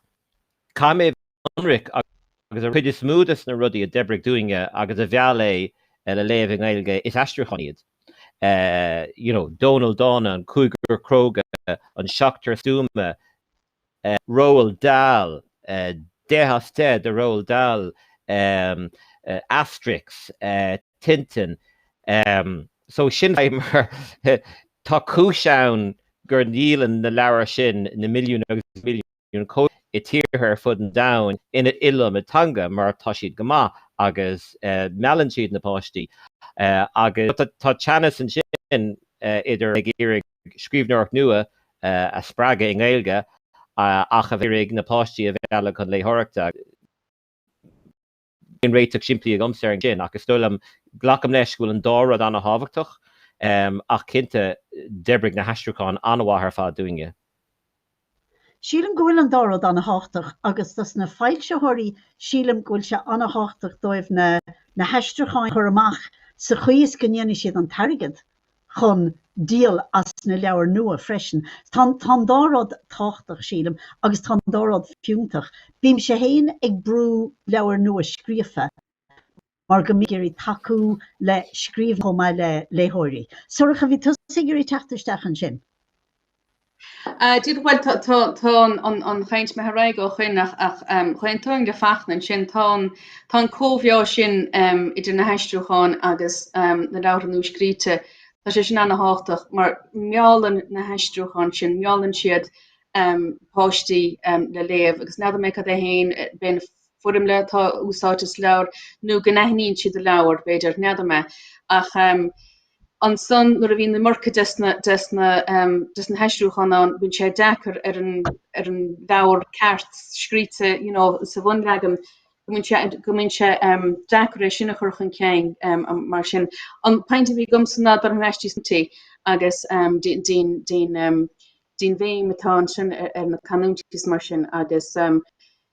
[SPEAKER 1] caithfidh mé a ionraic agus an chuid is mó de na rudaí a d'oibrigh dúinne agus a mheall é le léamh i nGaeilge, is aistriúcháin iad. you know Dónall Dána, an Cúigear Cróga, an Seachtar Stuama, Roald Dahl, deich as deich do Roald Dahl, Asterix, Tintin, so sin é mar tá cúis ann gur ndíolann na leabhair sin na milliúin agus na milliúin. i dtíortha ar fud an domhain in iliomad teanga mar tá siad go maith agus meallann siad na páistí agus tá teannas ansin idir ag iarraidh scríbhneoireacht nua a spreagadh i nGaeilge ach ag iarraidh na páistí a mhealladh chun léitheoireachta. Níl aon réiteach simplí agamsa air sin, ach is dóigh liom, glacaim leis go bhfuil an dá rud an-tábhachtach, ach cinnte, d'oibrigh na haistriúcháin an-mhaith ar fad dúinne. Sílim go bhfuil an dá rud an-tábhachtach, agus dos na foilsitheoirí, sílim go bhfuil sé an-tábhachtach dóibh na haistriúcháin a chur amach sa chaoi is go ndéanfaidh siad an t-airgead. chun díol as na leabhair nua freisin. Tá an dá rud tábhachtach, sílim, agus tá an dá rud fiúntach. Bímse féin ag brú leabhair nuascríofa mar go mbím ag iarraidh tacú le scríbhneoirí chomh maith le léitheoirí. Sorcha, bhí tusa ag iarraidh teacht isteach ansin. Díreach bhuel tá an chaint imithe ar aghaidh ó shoin ach d'aontóinn le Fachtna ansin tá an comhréir sin idir na haistriúcháin agus na leabhartha nuascríte tá sé sin an-thábhachtach mar meallann na haistriúcháin sin meallann siad páistí le léamh agus n'fheadar mé cad é féin b'fhéidir an fhoirmle atá úsáidte sa leabhar nó go n-aithníonn siad an leabhar b'fhéidir n'fheadar mé ach Ansan nuair a bhíonn an iomarca desna haistriúcháin ann bíonn sé deacair ar an leabhar ceart scríte sa bhunleagan go mbíonn sé deacair é sin a chur chun cinn mar sin. An point a bhí agamsa ná dul thar ais dtí san agus dtín bhéim atá ansin ar na canúintí is mar sin agus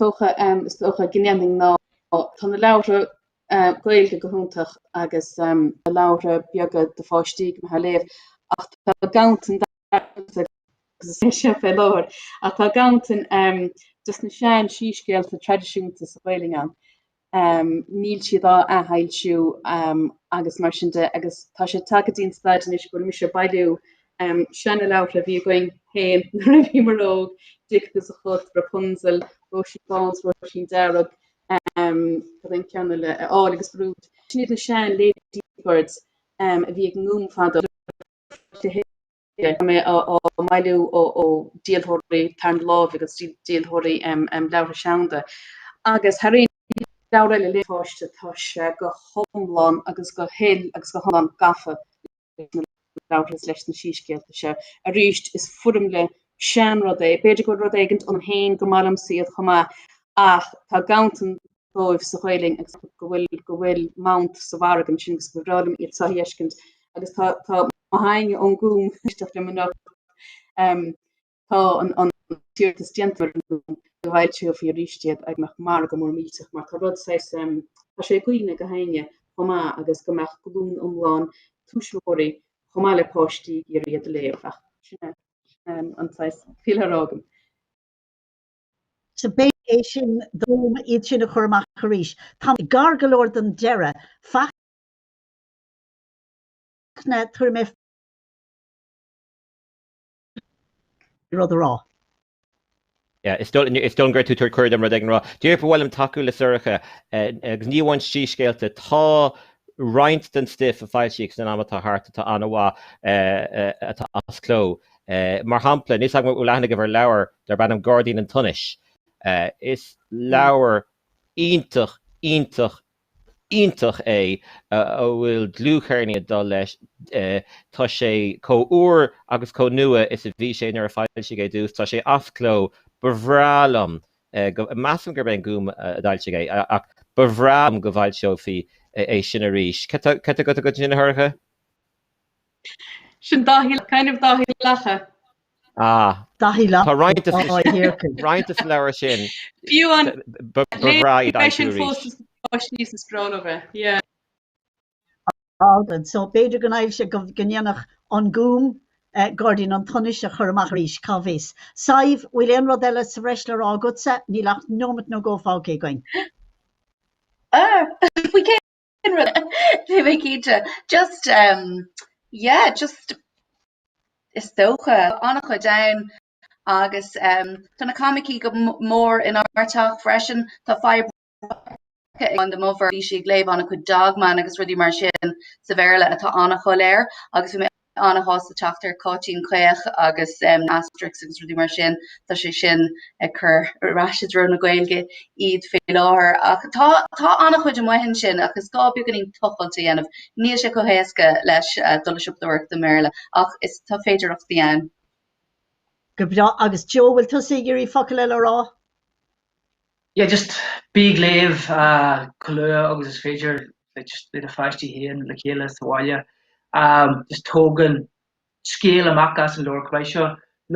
[SPEAKER 1] Dócha is dócha go ndéarfainn ná tá na leabhra Gaeilge go hiontach agus na leabhra beaga do pháistí go maith a léamh ach tá ganntan agus is é seo fé láthair ach tá ganntan desna sean síscéalta traidisiúnta sa Ghaelainn ann. níl siad á athfhoilsiú agus mar sin de agus tá sé tagtha dtí an staid anois go bhfuil mise ag bailiú seanleabhartha a bhí againn féin nuair a bhíomar óg, Dic agus a Chat, Rapunzel, Róisín Bán 's Róisín Dearg, cad é an ceann eile, Áille agus Brúid. Sin iad na sean Ladybirds a bhí ag an nGúm fadó. Tá mé á mbailiú ó díolthóirí tarna láimhe agus díolthóirí leabhartha seanda agus thar aon leabhar eile le mo pháiste tá sé go hiomlán agus go huile agus go hiomlán gafa leis na leabhartha is leis na síscéalta seo. Arís, is foirmle seanrud é, b'fhéidir go bhfuil rud éigin ionam féin go meallaim iad chomh maith ach tá ganntan dóibh sa Ghaelainn agus go bhfuil go bhfuil mant sa mhargadh ansin agus gur bhreá liom iad a fheiscint agus tá tá aithne ón nGúm ag éisteacht liom anocht um, tá an, an t-iarratas déanta ar an nGúm go bhfoilseofaí arís iad go mbeadh margadh mór millteach mar tá rud saghas um, tá sé i gcuimhne gach éinne chomh maith agus go mbeadh glún iomlán túismitheoirí chomh maith le páistí ag iarraidh iad a léamh ach sin um, an saghas fial ar fhágaim. b'fhéidir é sin d'fhonn iad sin a chur amach arís. Táimid gar go leor don deireadh. Fachtna, an bhfuil tú ag iarraidh rud a rá. Is dóigh go bhfuil tú ag tabhairt cuireadh dom rud éigin a rá. Díreach go bhfuilim ag tacú le Sorcha, agus ní amháin síscéalta. Tá roinnt den stuif a foilsíodh san am atá thart atá an-mhaith atá as cló. Mar shampla, níl a fhios agam an bhfuil aithne agaibh ar leabhar darb ainm Gairdín an tSonais. Is leabhar iontach, iontach, iontach é a bhfuil dlúthchéirnín ag dul leis. Tá sé chomh úr agus chomh nua is a bhí sé nuair a foilsíodh é ar dtús. Tá sé as cló. Ba bhreá liom go, measaim gurb é an Gúm a d'fhoilsigh é, ach ba bhreá liom go bhfoilseofaí é sin arís. Cad atá agat ansin, a Shorcha? Sin Dáithí, Dáithí Lacha. Ah. Dáithí Lacha. Tá roinnt de roinnt de sa leabhar sin. Fiú an. Ba bhreá iad aimsiú arís. Sin fós is fáis níos is bronnadh é. Yeah. Alban. So b'fhéidir go n-aimseodh, go ndéanfadh an Gúm Gairdín an tSonais a chur amach arís, cá bhfios. Sadhbh, bhfuil aon rud eile sa bhreis le rá agatsa? Níl ach nóimeat nó dhó fágtha againn. Ah! Faoi cé Ní bheidh cinnte. Just em yeah just is dócha an-chuid ann agus em tá na coimicí go mór in ár teach freisin. Tá fadhb againn mar bhí sí ag léamh an-chuid Dog Man agus rudaí mar sin sa Bhéarla atá an-shoiléir agus bhí mé ana-shásta teacht ar Cáitín Caoch agus Asterix agus rudaí mar sin, tá sé sin ag á gcur ar ais i dtreo na Gaeilge iad fé láthair. Ach tá ana-chuid amuigh ansin ach is gá beagáinín tochailt a dhéanamh. Níl sé chomh héasca leis dul ag siopadóireacht i mBéarla ach is tá féidearthachtaí ann. Go breá. Agus Joe, bhfuil tusa ag iarraidh focal eile a rá? yeah just bí ag léamh chomh luath agus is féidir like just le do pháistí féin le chéile sa bhaile um just tóg an scéal amach as an leabhar like seo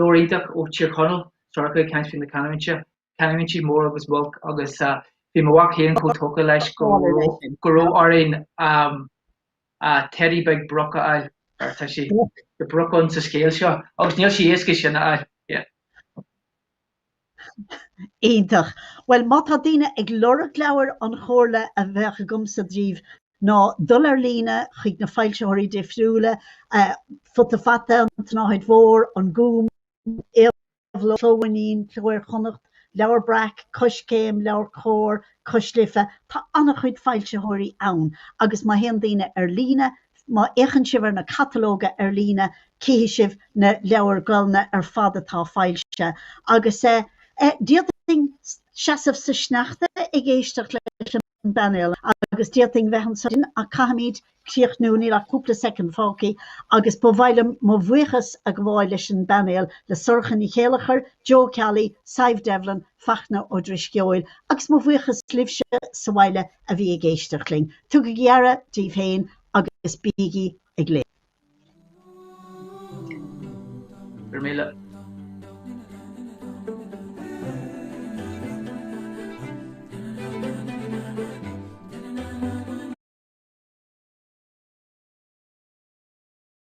[SPEAKER 1] leabhar iontach ó Thír Chonaill Sorcha ag caint faoi na canúintí canúintí Mór agus Muilc agus uh, bhí mo mhac féin chomh tógtha leis go raibh go raibh orainn um, uh, teidí beag broc a fháil mar tá broc ann sa scéal seo agus níl sé éasca sin a fháil Iontach. Bhuel, má tá daoine ag lorg leabhair, an chomhairle a bheadh agamsa daoibh ná dul ar líne chuig na foilsitheoirí difriúla, Futa Fata, An tSnáthaid Mhór, An Gúm, Éabhlóid, Cló Mhaigh Eo, Cló Iar-Chonnacht, Leabhar Breac, Coiscéim, LeabhairCOMHAR, Cois Life, tá an-chuid foilsitheoirí ann agus má théann daoine ar líne, Má fhéachann sibh ar na catalóga ar líne cífidh sibh na leabhair ghleoite ar fad atá foilsithe. Agus d'fhéadfainn seasamh sa sneachta ag éisteacht leis an bpainéal agus d'fhéadfainn bheith anseo go maidin ach caithfimid críochnú, níl ach cúpla soicind fágtha agus ba mhaith liom mo bhuíochas a ghabháil leis an bpainéal, le Sorcha Ní Chéilleachair, Joe Ceallaigh, Sadhbh Devlin, Fachtna Ó Drisceoil. Agus mo bhuíochas libhse sa bhaile a bhí ag éisteacht linn, tugaigí aire daoibh féin agus bígí ag léamh. Go raibh míle.